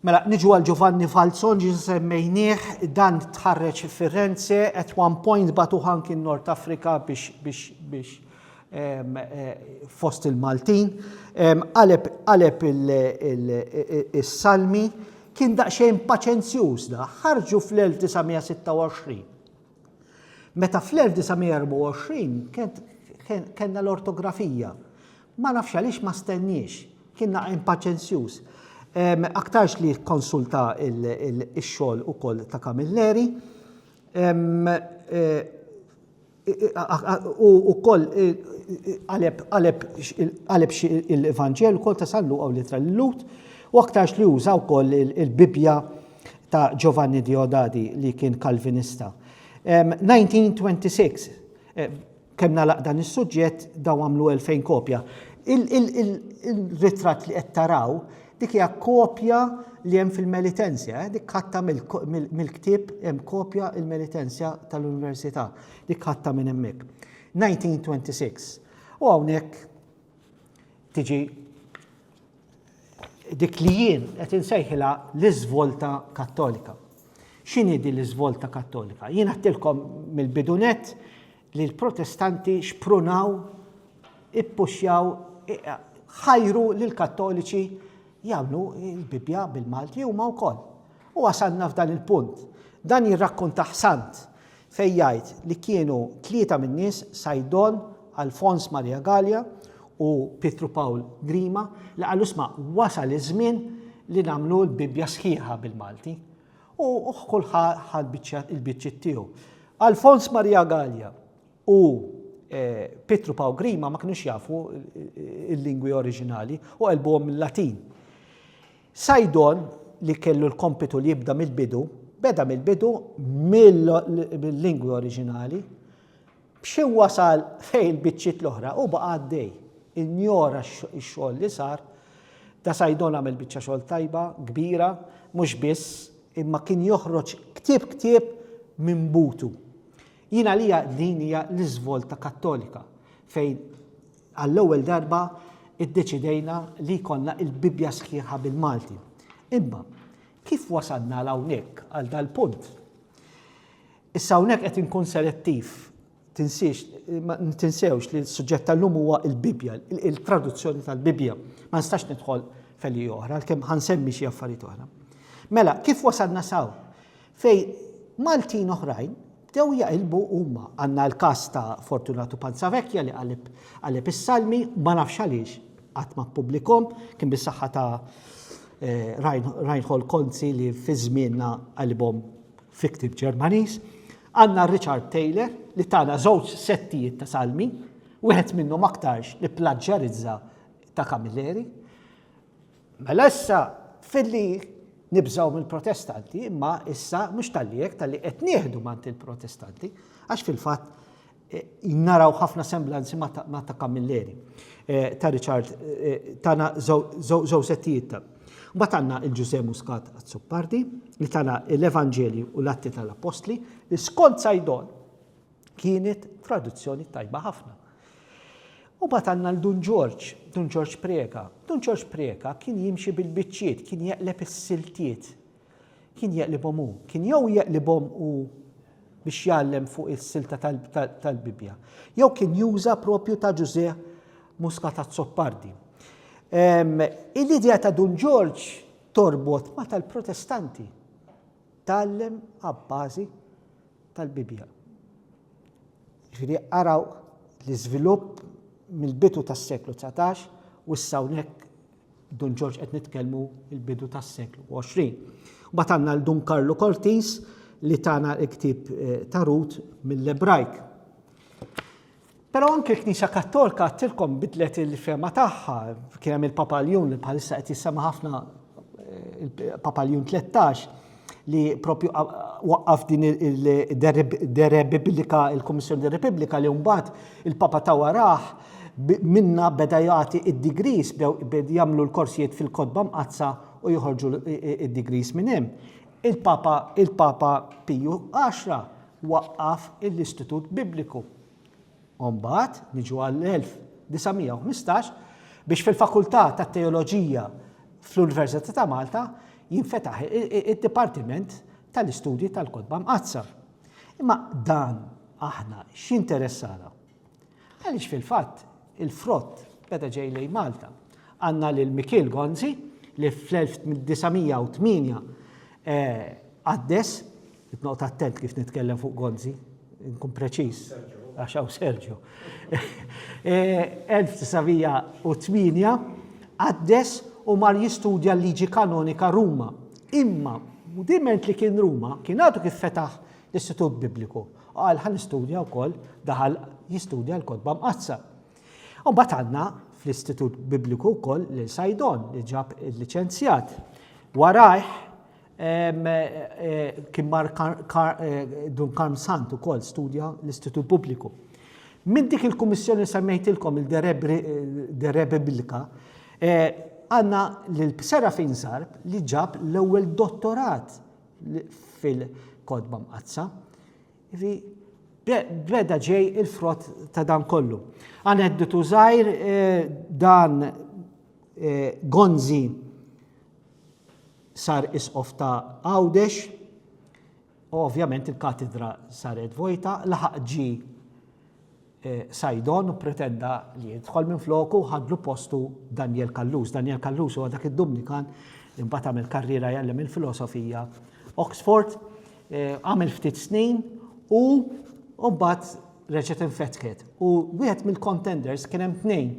Mela, niġu għal Giovanni Falzon ġi semmejnieh dan tħarreġ Firenze at one point batu ħanki Nord Afrika biex biex biex fost il-Maltin, qaleb is-salmi, kien daqsxejn paċenzjuż da, ħarġu fl-1926. Meta fl-1924 kellna l-ortografija, ma nafx għaliex ma stenniex, kien naqgħen paċenzjuż. Aktarx li kkonsulta x-xogħol ukoll ta' Camilleri. U wkoll qaleb xi l-Evanġelu wkoll ta' San Luqa u l-Ittra lil-Lhud, u aktarx li uża wkoll il-Bibbja ta' Giovanni Diodati li kien Kalvinista. 1926, kemm nagħlaq dan is-suġġett dawn għamlu 2000 kopja. Il-ritratt li qed taraw Dik hija kopja li hemm fil-Melitensia, eh? dik ħatta mill-ktieb hemm kopja il-Melitensia tal-Università, dik ħatta minn hemmhekk. 1926. U hawnhekk tiġi dik li jien qed insejħilha l-iżvolta kattolika. X'inhi din l-iżvolta kattolika? Jien għattilkom mill-bidunet li l-Protestanti xprunaw, ippuxxjaw, ħajru lill-Kattoliċi jagħmlu l-Bibbja bil-Malti huma wkoll. U wasalna f'dan il-punt. Dan jirrakkuntah sant fejn jgħid li kienu tlieta min-nies Saidon, Alfons Maria Galea u Pietru Pawl Grima li qalu sma' wasal iż-żmien li nagħmlu l-Bibbja sħiħa bil-Malti. U kull ħa ħa l-biċċa il-biċċiet tiegħu. Alfons Maria Gallia u Pietru Paw Grima ma kinux jafu il-lingwi oriġinali u qelbuhom mill-Latin. Sajdon li kellu l-kompitu li jibda mill-bidu, beda mill-bidu mill-lingwi oriġinali B'xi wasal fejn il-biċċiet l-oħra u baqa' għaddej. Injora x-xogħol li sar. Da Saidon għamel biċċa xogħol tajba, kbira, mhux biss, imma kien joħroġ ktieb ktieb minn butu. Jien għalija din hija l-iżvolta Kattolika fejn għall-ewwel darba iddeċidejna li jkollna il-Bibbja sħiħa bil-Malti. Imma kif wasalna għal hawnhekk għal dal-punt? Issa hawnhekk qed inkun selettiv. Tinsiex, ma tinsewx li s-suġġett tal-lum huwa l-Bibbja, il-traduzzjoni tal-Bibbja. Ma nistax nidħol feli oħra, għalkemm ħansemmi xi affarijiet oħra. Mela, kif wasalna saw? Fej Maltin oħrajn bdew jaqilbu huma. Għandna l-każ ta' Fortunatu Panzavecchia li qalib qalib is-salmi, ma nafx għaliex qatt ma ppublikom, kien bis-saħħa ta' eh, Reinhold Konzi li fi żmienna qalibhom fi ktieb Ġermaniż, għandna Richard Taylor li tana żewġ settijiet ta' salmi, wieħed minnhom aktarx ipplaġġjarizza ta' Camilleri. Mela issa filli nibżgħu mill-Protestanti, imma issa mhux tal-li hekk tal-li qed nieħdu mant il-Protestanti, għax fil-fatt Naraw ħafna semblanzi ma' ta' Camilleri, ta' Richard, tana żewġ settijiet ta'. Mbagħad għandna il-Ġużè Muscat Azzopardi li tana l-Evanġelji u l-Atti tal-Appostli li skont Saidon kienet traduzzjoni tajba ħafna. U bat għanna l-Dun Ġorġ, Dun Ġorġ Preka. Dun Ġorġ Preka kien jimxi bil-bicċiet, kien jaqleb is-siltiet Kien jeqlibhom hu. Kien jew jeqlibhom hu biex jgħallem fuq is-silta tal-Bibbja, jew kien juża propju ta' Ġużè Muscat Azzopardi. Ehm, il-idea ta' Dun Ġorġ torbot ma tal-protestanti. Tallem għabbażi tal-Bibja. Ġiri għaraw l-izvilupp mill-bitu tas-seklu 19 u s-sawnek Dun Ġorġ qed nitkellmu il-bidu tas-seklu 20. Mbagħad għandna l Dun Karlu Cortis li tana l-ktib eh, tarut mill-Ebrajk. Pero anke l-Knisja Kattolka għattilkom bidlet il-fema tagħha, kien hemm il-Papa Ljun li bħalissa qed jissema ħafna eh, il-Papa Ljun 13, li propju waqqaf din il-derepubblika, il-Kummissjoni Derepubblika li mbagħad il-Papa ta' warah minna beda jagħti id-degrees bdew jagħmlu l-korsijiet fil-kotba mqaddsa u joħorġu id-degrees minn hemm. Il-Papa il-Papa Piju 10 waqqaf l-Istitut Bibliku. U mbagħad niġu għall-1915 biex fil-Fakultà tat-Teoloġija fl-Università ta' Malta jinfetaħ id-Dipartiment tal-Istudji tal-Kotba Mqaddsa. Imma dan aħna x'interessana? Għaliex fil-fatt il-frott beda ġej lejn Malta. Għandna lil Mikiel Gonzi li fl-1908 eh, għaddes Qed noqgħod attent kif nitkellem fuq Gonzi, nkun preċiż, għax hawn Sergio. 1908 eh, għaddes u mar jistudja l-liġi kanonika Ruma. Imma, diment li kien Ruma, kien għadu kif fetaħ l-Istitut Bibliku. Għal ħan istudja u koll, daħal jistudja l-kodba mqazza. Un batanna fl-Istitut Bibliku u koll l-Sajdon li ġab il-licenzjat. Warajħ Kien mar Dun Karm Sant ukoll studja l-Istitut Pubbliku. Minn dik il-kummissjoni li semmejtilkom il-De Re Biblica, għandna lil Serafin Zarb li ġab l-ewwel dottorat fil-Kotba Mqaddsa. Beda ġej il-frott ta' dan kollu. Aneddotu żgħir dan Gonzi sar Isqof ta' Għawdex, u ovvjament il-katidra saret vojta, laħaq ġie Saidon u pretenda li jidħol minfloku u ħadlu postu Daniel Callus. Daniel Callus huwa dak id-Dumnikan li mbagħad għamel karriera jgħallem il-filosofija Oxford, għamel ftit snin u mbagħad reġgħet infetħet. U wieħed mill-contenders kien hemm tnejn,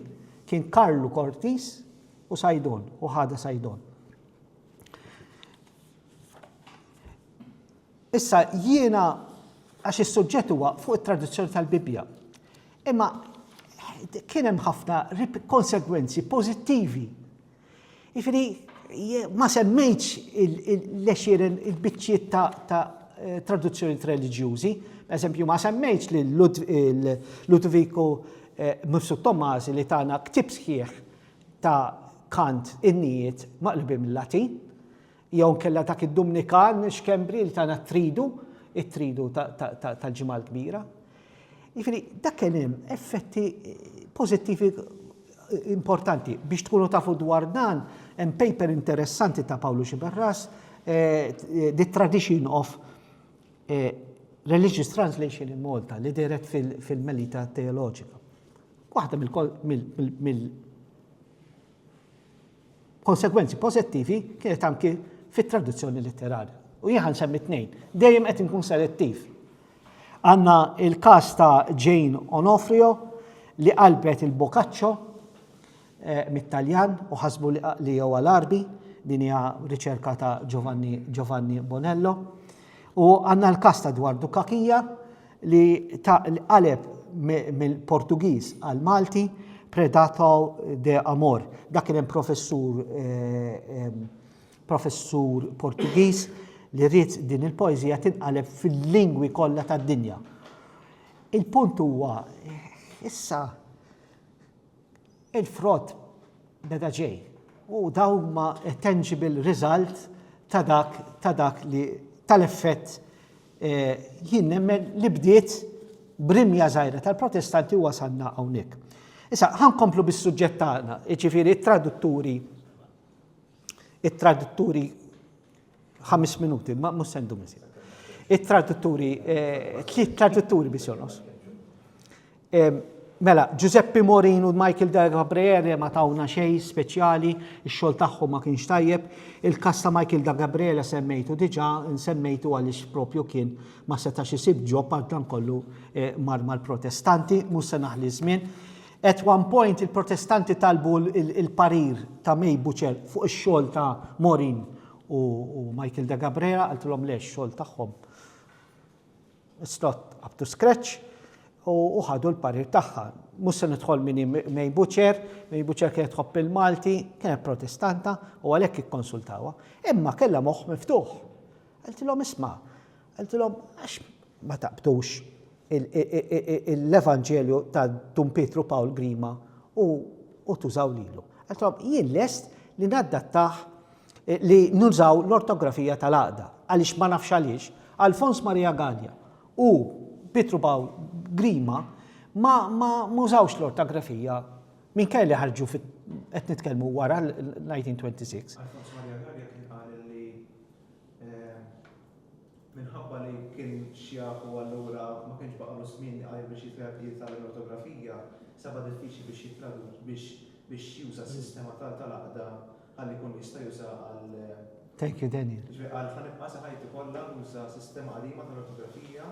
kien Karlu Cortis U Sajdon, u ħada Sajdon. Issa jiena għax is-suġġett huwa fuq it-traduzzjoni tal-Bibbja. Imma kien hemm ħafna konsegwenzi pożittivi. Ifri ma semmejtx il-lexiren il-biċċiet ta' eh, traduzzjoni reliġjużi, per esempio ma semmejtx li Ludviku eh, Mifsud Tomasi li tana ktib sħiħ ta' kant innijiet maqlubin mil-Latin, jew inkella dak id-Dumnikan Xkembri li tana t-Tridu, it-Tridu tal-Ġimgħa l-Kbira. Jiġifieri dak kien hemm effetti pożittivi importanti. Biex tkunu tafu dwar dan, hemm paper interessanti ta' Pawlu Xiberras, eh, The Tradition of eh, Religious Translation in Malta, li deret fil-Melita Teoloġika. Waħda mill-konsegwenzi pożittivi kienet anki fit-traduzzjoni litterarja. U jien ħa nsemmi tnejn. Dejjem qed inkun selettiv. Għandna il-każ ta' Jane Onofrio li qalbet il-Boccaccio mit-Taljan u ħasbu li jewa l-Għarbi, din hija riċerka ta' Giovanni, Giovanni Bonello. U għandna l-każ ta' Dwar Dukakija li ta' qaleb mill-Portugiż għal Malti Predato de Amor. Dak kien hemm professur eh, professur Portugiż li rrid din il-poeżija tinqaleb fil-lingwi kollha tad-dinja. Il-punt huwa issa Il-frott beda ġej u dawn huma tangible result ta' dak ta' dak li tal-effett jien nemmen li bdiet b'rimja żgħira tal-Protestanti u wasalna hawnhekk. Issa, ħa nkomplu bis-suġġett tagħna, jiġifieri t-tradutturi it-tradutturi Ħames minuti, ma mhux sendu miżjed. It-tradutturi, eh, tliet tradutturi biex jonos. Mela, Giuseppe Morin u Michael De Gabriele ma tawna xej speċjali, ix-xogħol tagħhom ma kienx tajjeb. Il-kas ta' Michael De Gabriele semmejtu diġà, nsemmejtu għaliex propju kien ma setax isib ġob għal dan kollu eh, mar mal-protestanti, mhux se naħli żmien. At one point il-Protestanti talbu l-parir ta' May Butcher fuq ix-xogħol ta' Maureen u Michael de Cabrera, qaltilhom le x-xogħol tagħhom it's not up to scratch u ħadu l-parir tagħha. Mhux se nidħol min hi May Butcher, May Butcher kienet tħobb il-Malti, kienet Protestanta u għalhekk ikkonsultawha, imma kellha moħħ miftuħ. Qaltilhom isma', Qaltilhom, Għax ma taqbdux l-Evanġelju ta' Dun Pietru Pawl Grima u tużaw lilu? Qaltilhom, Jien lest li naddattah li nużaw l-ortografija tal-għaqda, għaliex ma nafx għaliex, Alfons Marija Galea u Pietru Pawl Grima ma użawx l-ortografija minkejja li ħarġu fi, qed nitkellmu wara l-1926. Minħabba li kien xjak u allura ma kienx baqgħalu żmien iqajr biex jitgħallem l-ortografija, saba' diffiċli biex jittradu biex biex juża s-sistema tal tal-għaqda ħalli jkun jista' jużaha għal. Thank you Daniel. Ġifieri qal ħa nibqa' sa ħajti kollha nuża sistema qadima tal-ortografija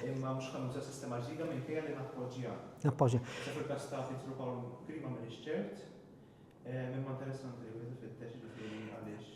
imma mhux ħa nuża sistema ġdida minkejja li nappoġġja. Nappoġġja. Issa fil-każ ta' Pietru Pawl Grima m'iniex ċert imma interessanti li wieħed ifittex ġifieri għaliex.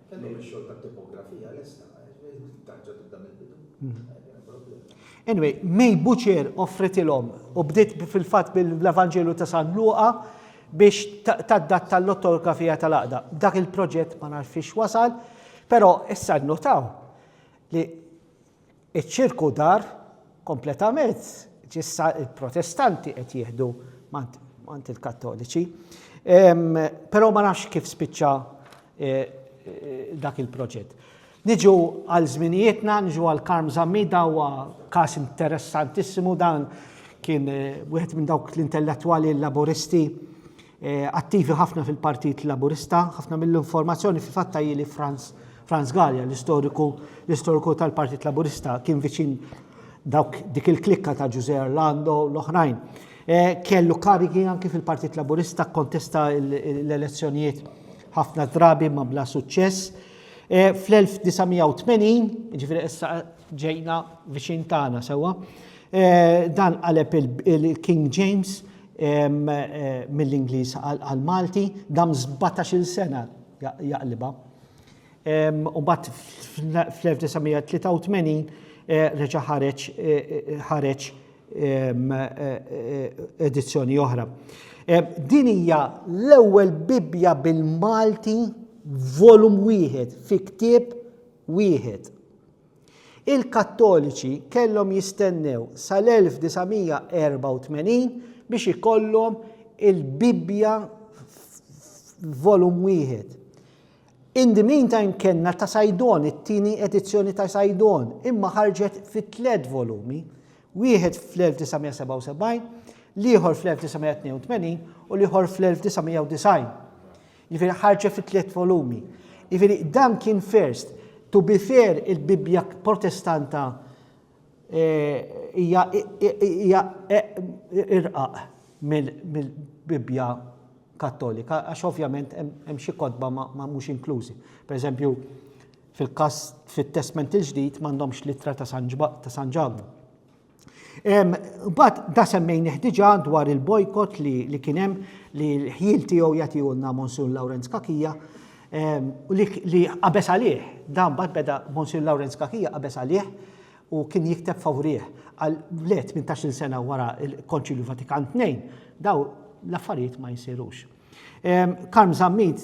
Kellhom ix-xogħol tat-tipografija lesta, tant ġa tibda mill-bidu. Anyway, May Butcher offritilhom u bdiet fil-fatt bil-Evanġelu ta' San Luqa biex taddatta l-ottografija tal-għaqda. Dak il-proġett ma nafx wasal, però issa nnotaw li Iċ-ċirku dar kompletament, issa l-Protestanti qed jieħdu mant il-Kattoliċi. Però ma nafx kif spiċċa e, e, dak il-proġett. Niġu għal żminijietna, niġu għal Karm Zammida huwa każ interessantissimu dan kien e, wieħed minn dawk l-intellettwali laboristi attivi ħafna fil-Partit Laburista, ħafna mill-informazzjoni fi fatta li Franz Franz Gallia, l-istoriku l-istoriku tal-Partit Laburista, kien viċin dawk dik il-klikka ta' Ġuże Orlando l-oħrajn. E, kellu karigi anki fil-Partit Laburista kontesta l-elezzjonijiet ħafna drabi ma bla suċċess. E, Fl-1980, ġifiri issa ġejna viċin tagħna sewwa, e, dan qaleb il-King James mill-Ingliż għall-Malti, dam 17-il sena jaqlibha. U mbagħad fl-1983 reġa' ħareġ ħareġ edizzjoni oħra. Din hija l-ewwel Bibbja bil-Malti volum wieħed fi ktieb wieħed. Il-Kattoliċi kellhom jistennew sal-1984 biex ikollhom il-Bibbja f'volum wieħed. In the meantime kellna ta' Sajdon, it-tieni edizzjoni ta' Sajdon, imma ħarġet fi tliet volumi, wieħed fl-1977, l-ieħor fl-1982 u l-ieħor fl-1990. Jiġifieri ħarġet fi tliet volumi. Jiġifieri dan kien first. To be fair, il-Bibbja Protestanta hija irqaq mill-Bibbja Kattolika għax ovvjament hemm xi kotba ma mhux inklużi. Pereżempju, fil-każ fit-Testment il-Ġdid m'għandhomx l-Ittra ta' San Ġakbu. Mbagħad da semmejnih diġà dwar il-bojkot li, li kien hemm li l-ħjiel tiegħu jagħtihulna Monsur Lawrenz Kakija u li, li qabeż għalih. Da mbagħad beda Monsur Lawrenz Kakija qabeż għalih u kien jikteb favorih. Għal le 18-il sena wara l-Konċilju Vatikan Tnejn, daw l-affarijiet ma jsirux. Karm Zammit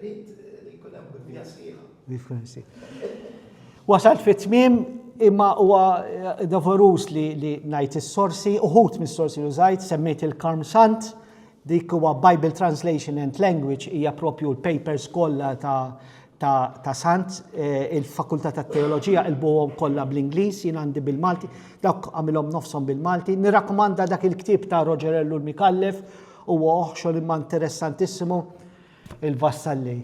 Rrid li jkun hemm wifja sħiħa. Wasalt fit-tmiem imma huwa dovoruż li ngħid is-sorsi, uħud mis-sorsi li użajt, semmejt il-Karm Sant, dik huwa Bible Translation and Language hija propju l-papers kollha ta' Sant, eh, il-Fakultà tat-Teoloġija qilbuhom kollha bl-Ingliż, jien għandi bil-Malti, dawk għamilhom nofshom bil-Malti. Nirrakkomanda dak il-ktieb ta' Roger Ellul Micallef, huwa xogħol imma interessantissimu. Il-vassalli,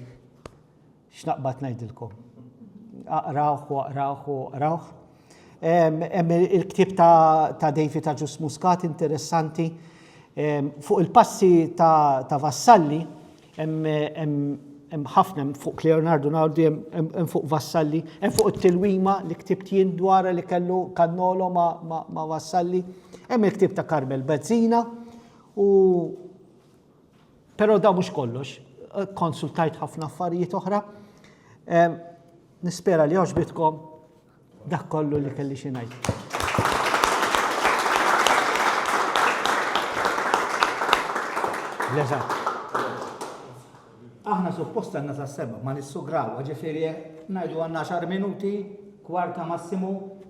x'naqbad ngħidilkom. Aqrawh u aqrawh u aqrawh. Hemm il-ktieb ta' David ta' Ġus Muscat interessanti. Fuq il-passi ta' vassalli, hemm ħafna fuq Leonardo Nardi, hemm fuq vassalli, hemm fuq it-tilwima li ktibt jien dwar li kellu kannolo ma' vassalli. Hemm il-ktieb ta' Carmel Bezzina u Però da mhux kollox, konsultajt ħafna affarijiet oħra. Nispera li għoġbitkom dak kollu li kelli xi ngħid. Leżat. Aħna suppost għanna sa' seba, ma nissugraw, ġifiri, najdu għanna xar minuti, kwarta massimu,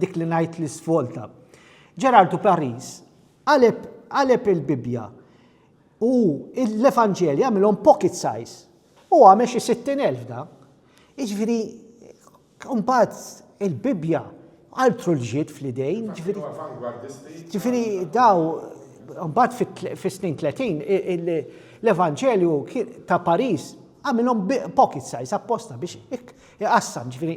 Dik li ngħid li svolta. Ġerardu Paris qaleb qaleb il-Bibbja u l-Evanġelji għamilhom pocket size. U għamel xi 60,000 da. Iġifieri mbagħad il-Bibbja altru l-ġid fl-idejn. Ġifiri, daw, mbagħad fis-snin 30, l-Evanġelju ta' Paris għamilhom pocket size apposta biex iqassam, ġifiri,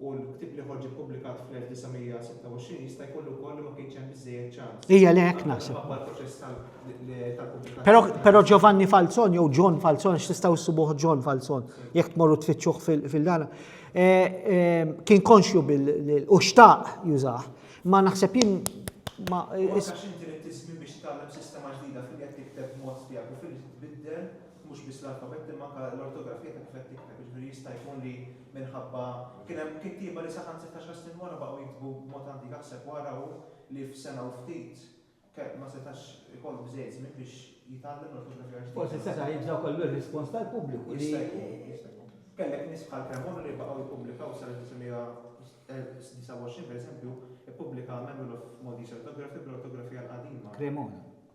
u l-ktieb li ħorġ ippubblikat fl-1926 jista' jkun ukoll li ma kienx hemm biżżejjed ċans. Hija li hekk naħseb. Però però Giovanni Falzon jew John Falzon x'tistgħu ssibuh John Falzon jekk tmorru tfittxuh fil-dana. Eh, eh, kien konxju bil u xtaq jużah. Ma naħseb jien ma. minħabba kien hemm kittieba li saħansitra xar snin wara baqgħu jiktbu b'mod antik aħseb u ara hu li f'sena u ftit kelb ma setax ikollu biżżejjed żmien biex jitgħallem l-ortografija l-ġdida. Forsi seta' jibżgħu kollu r-rispons tal-pubbliku li. Jista' jkun, jista' jkun. Kellek nies bħal Cremona li baqgħu jippubblikaw sal-1929 pereżempju, ippubblika Manual of Maltese Orthography bl-ortografija l-qadima. Cremona.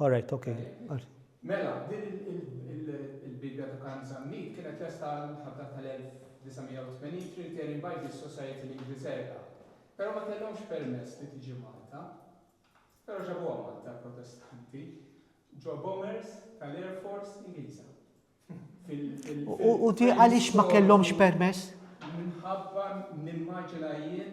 All right, ok. Mela, din il-Bibbja ta' Karm Zammit kienet lesta għall-Imħabba tal-1980 Trinitarian Bible Society l-Ingilterra, però ma kellhomx permess li tiġi Malta. Però ġabuha Malta l-Protestanti ġo bombers tal-Air Force Ingliża. U ti għaliex ma kellhomx permess? Minħabba nimmaġina jien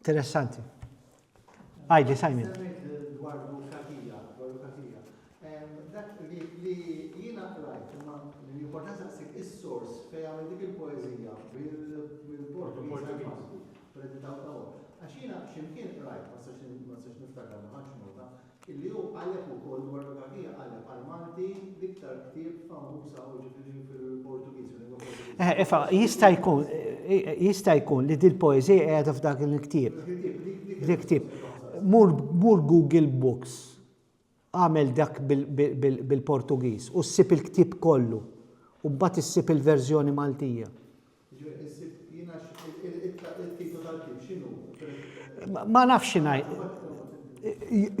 Interessanti. Għajdi, Simon. Dwar burokratija, burokratija. Dak li jiena qrajt, imma l-importanza ssib is-sors fejn għamel dik il-poeżija bil-portu Għax jiena x'imkien qrajt, ma sax niftakar ma ħadx nota, Illi hu qaleb ukoll dwar u dak hija qaleb għal Malti l-iktar ktieb famuż hawn jiġifieri fil-Portugiż, fil-lingwa Portugiża. Eħe, iva, jista' jkun, jista' jkun li dil-poeżija qiegħda f'dak il-ktieb. Dak il-ktieb, dik, dik il-poeżija. Dik il-ktieb. Mur, mur Google Books, agħmel dak bil, bil, bil, bil-Portugiż u ssib il-ktieb kollu u mbagħad issib il-verżjoni Maltija. Jiġifieri issib jiena it-titlu tal-ktieb x'inhu? Ma nafx ngħid.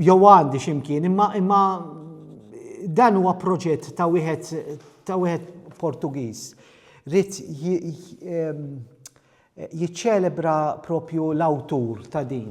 Jew għandi x'imkien, imma imma dan huwa proġett ta' wieħed ta' wieħed Portugiż. Rid jiċċelebra propju l-awtur ta' din.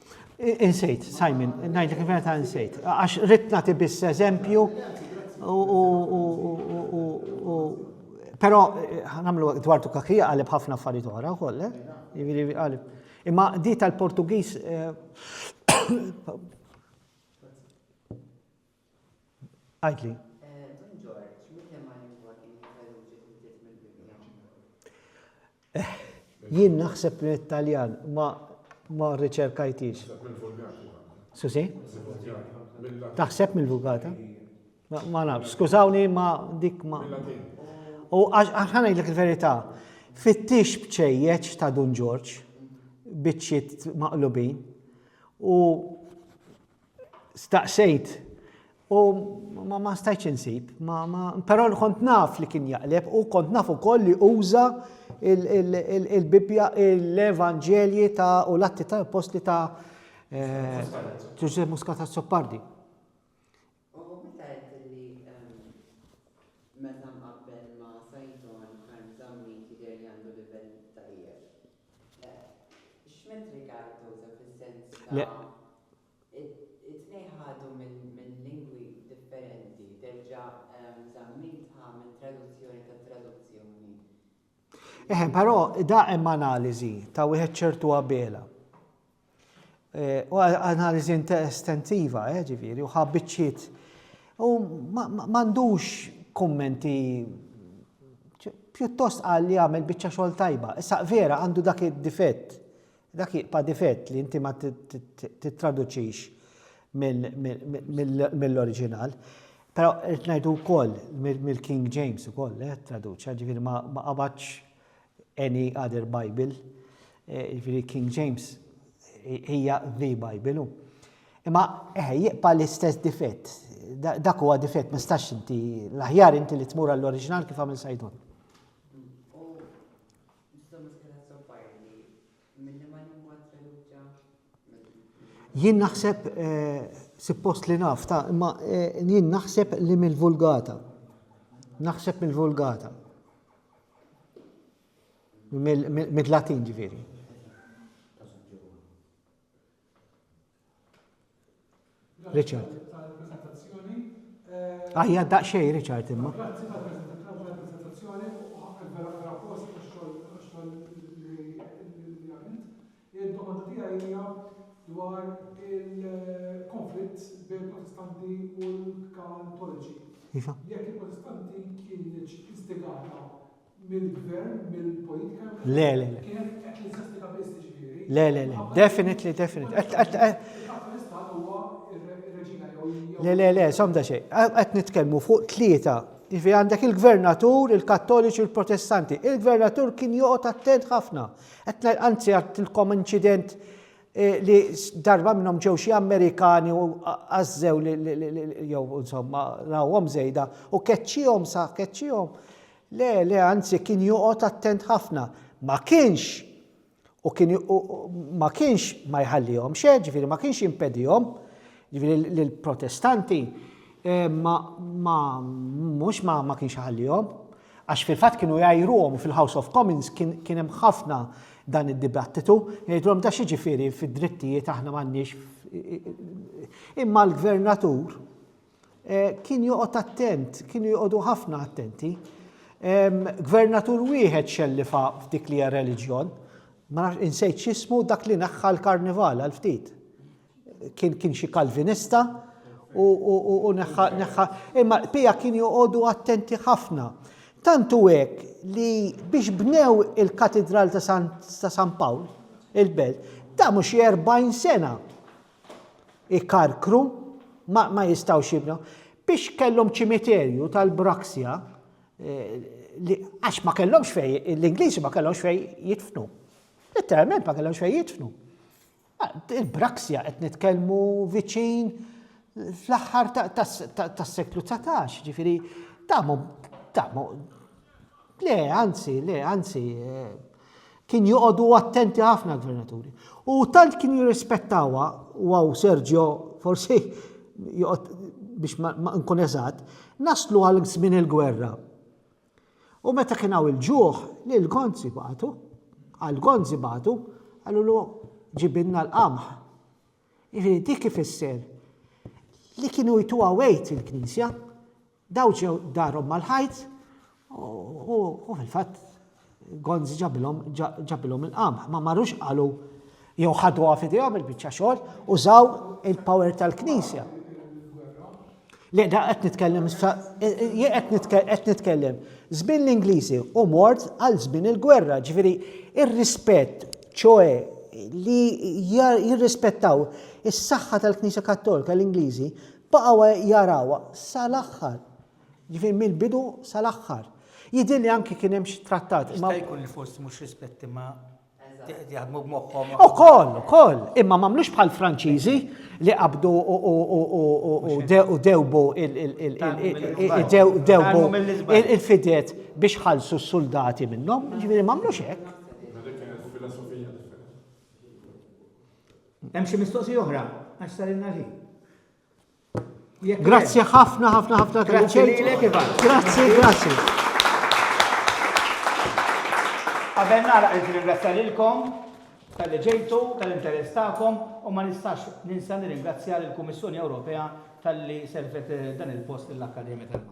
Insejt, Simon, ngħidlek il-verità insejt. Għax rid nagħti biss eżempju u però eh, nagħmlu dwar tukakija qalib ħafna affarijiet oħra wkoll, eh? Imma di tal-Portugiż eh, Għidli. Don Ġorġ, mil-liema lingwa kien Jeveruġi ħudiet mill-Bibbja? Jien naħseb li t-Taljan ma ma rriċerkajtix. Susi? Taħseb mill-Vulgata? Ma naf, skużawni ma dik ma. U għaxħana jgħidlek il-verità, fittix bċejjeċ ta' Dun Ġorġ, bitċiet maqlubin, u Staqsejt u ma, ma stajtx insib, ma, ma, però kont naf li kien jaqleb u kont naf ukoll li uża il-Bibbja, l-Evanġelji ta' u l-atti ta' apostli ta' eh, Ġuże Muscat Soppardi. Eħe, però da hemm analiżi ta' wieħed ċertu Abela. Eh, u analiżi estensiva, eh, ġifieri, u ħabbiċċiet. U m'għandux kummenti pjuttost qal li għamel biċċa xogħol tajba. Issa vera għandu dak id-difett, dak jiqpa difett li inti ma tittraduċix mill-oriġinal. Però qed ngħidu wkoll mill-King James ukoll eh, traduċa, ġifieri ma qabadx any other Bible, jiġifieri King James hija the Bible. Imma eħe jibqa' l-istess difett. Dak huwa difett ma stax inti l-aħjar inti li tmur għall-oriġinal kif għamil Sajdun. Milli ma ninkwatra jew ġa. Jien naħseb, suppost li naf, ta, imma jien naħseb li mill-Vulgata. Naħseb mill-Vulgata. Mill-Latin ġifieri. Richard. Għajja ah, daqxej, Richard, imma. dwar il-konflitt bejn protestanti u l-katoliċi. Iva. Jekk il-protestanti kienieċ istigata mill-gvern, mill-politika. Le, le, le. Kien qed jinsastika biss ġifieri. Le, le, le. Definitely, definitely. Le, le, le, somda xej. Qed nitkellmu fuq tlieta. Ifi għandek il-gvernatur, il-kattoliċi u l-protestanti. Il-gvernatur kien joqgħod attent ħafna. Qed anzi għattilkom inċident eh, li darba minnhom ġew xi Amerikani u għażżew jew insomma rawhom żejda u keċċihom sa keċċihom Le, le, anzi kien joqgħod attent ħafna. Ma kienx u kien ma kienx ma jħallihomx, eh, ġifieri ma kienx jimpedihom, ġifieri lill-Protestanti eh, ma mhux ma, ma kienx ħallihom. Għax fil-fatt kienu jgħajruhom u fil-House of Commons kien hemm ħafna dan id-dibattitu, jgħidulhom ta' xi ġifieri fid-drittijiet aħna m'għandniex imma l-gvernatur Kien joqgħod attent, kienu joqogħdu ħafna attenti. Gvernatur wieħed xellifa f'dik li hija reliġjon, ma nafx insejt x'ismu dak li naħħa l-karnival għal ftit. Kien kien xi kalvinista u neħħa. Imma pija kien joqogħdu attenti ħafna. Tantu hekk li biex bnew il-Katidral ta' San Pawl, il-Belt, ta' mhux 40 sena ikarkru, ma, ma jistawx jibnu. Biex kellhom ċimiterju tal-braksja, eh, għax ma kellhomx fej, l-Ingliżi ma kellhomx fej jitfnu. Letteralment ma kellhomx fej jitfnu. Ah, il-braksja qed nitkellmu viċin fl-aħħar tas-seklu 19, ġifiri, tamu, tamu, le, anzi, le, anzi, eh, Kien joqogħdu attenti ħafna l-gvernaturi. U tant kien jirrispettawha, u għaw Sergio forsi joqgħod biex ma nkun eżatt, naslu għal żmien il-gwerra. U meta kien hawn il-ġuħ, li l-gonzi batu, għal gonzi batu, għallu l ġibinna l-qamħ. Ġifieri dik ifisser li kienu jtuha wejt il-Knisja, Dawċew darhom mal-ħajt u fil-fatt Gonzi ġabilhom il-qamħ. Ma marrux qalu jew ħaduha f'idejhom il-biċċa xogħol użaw il-power tal-Knisja. Le, da qed nitkellem qed nitkellem żmien l-Ingliżi u mort għal żmien il-gwerra, ġifieri ir-rispett, ċoe li jirrispettaw is-saħħa tal-Knisja Kattolika l-Ingliżi Baqgħu jarawha sal-aħħar. Jiġifieri mill-bidu sal-aħħar. Jidhirli anki kien hemm xi trattat. Jista' jkun li fost mhux rispetti ma jaħdmu b'moħħhom. Ukoll, ukoll. Imma m'għamlux bħall-Franċiżi li qabdu u dewbu il-fidet biex ħallsu s-suldati minnhom. Jiġifieri m'għamlux hekk. Hemm xi mistoqsija oħra għax sarilna l-ħin. Grazzi ħafna ħafna ħafna Grazzi lilek Ivan. Grazzi, grazzi. Qabel nara qed ringrazzja lilkom tal-li ġejtu, tal-interess tagħkom u ma nistax ninsa nirringrazzja lill-Kummissjoni Ewropea tal-li servet eh, dan il-post l-Akkademja tal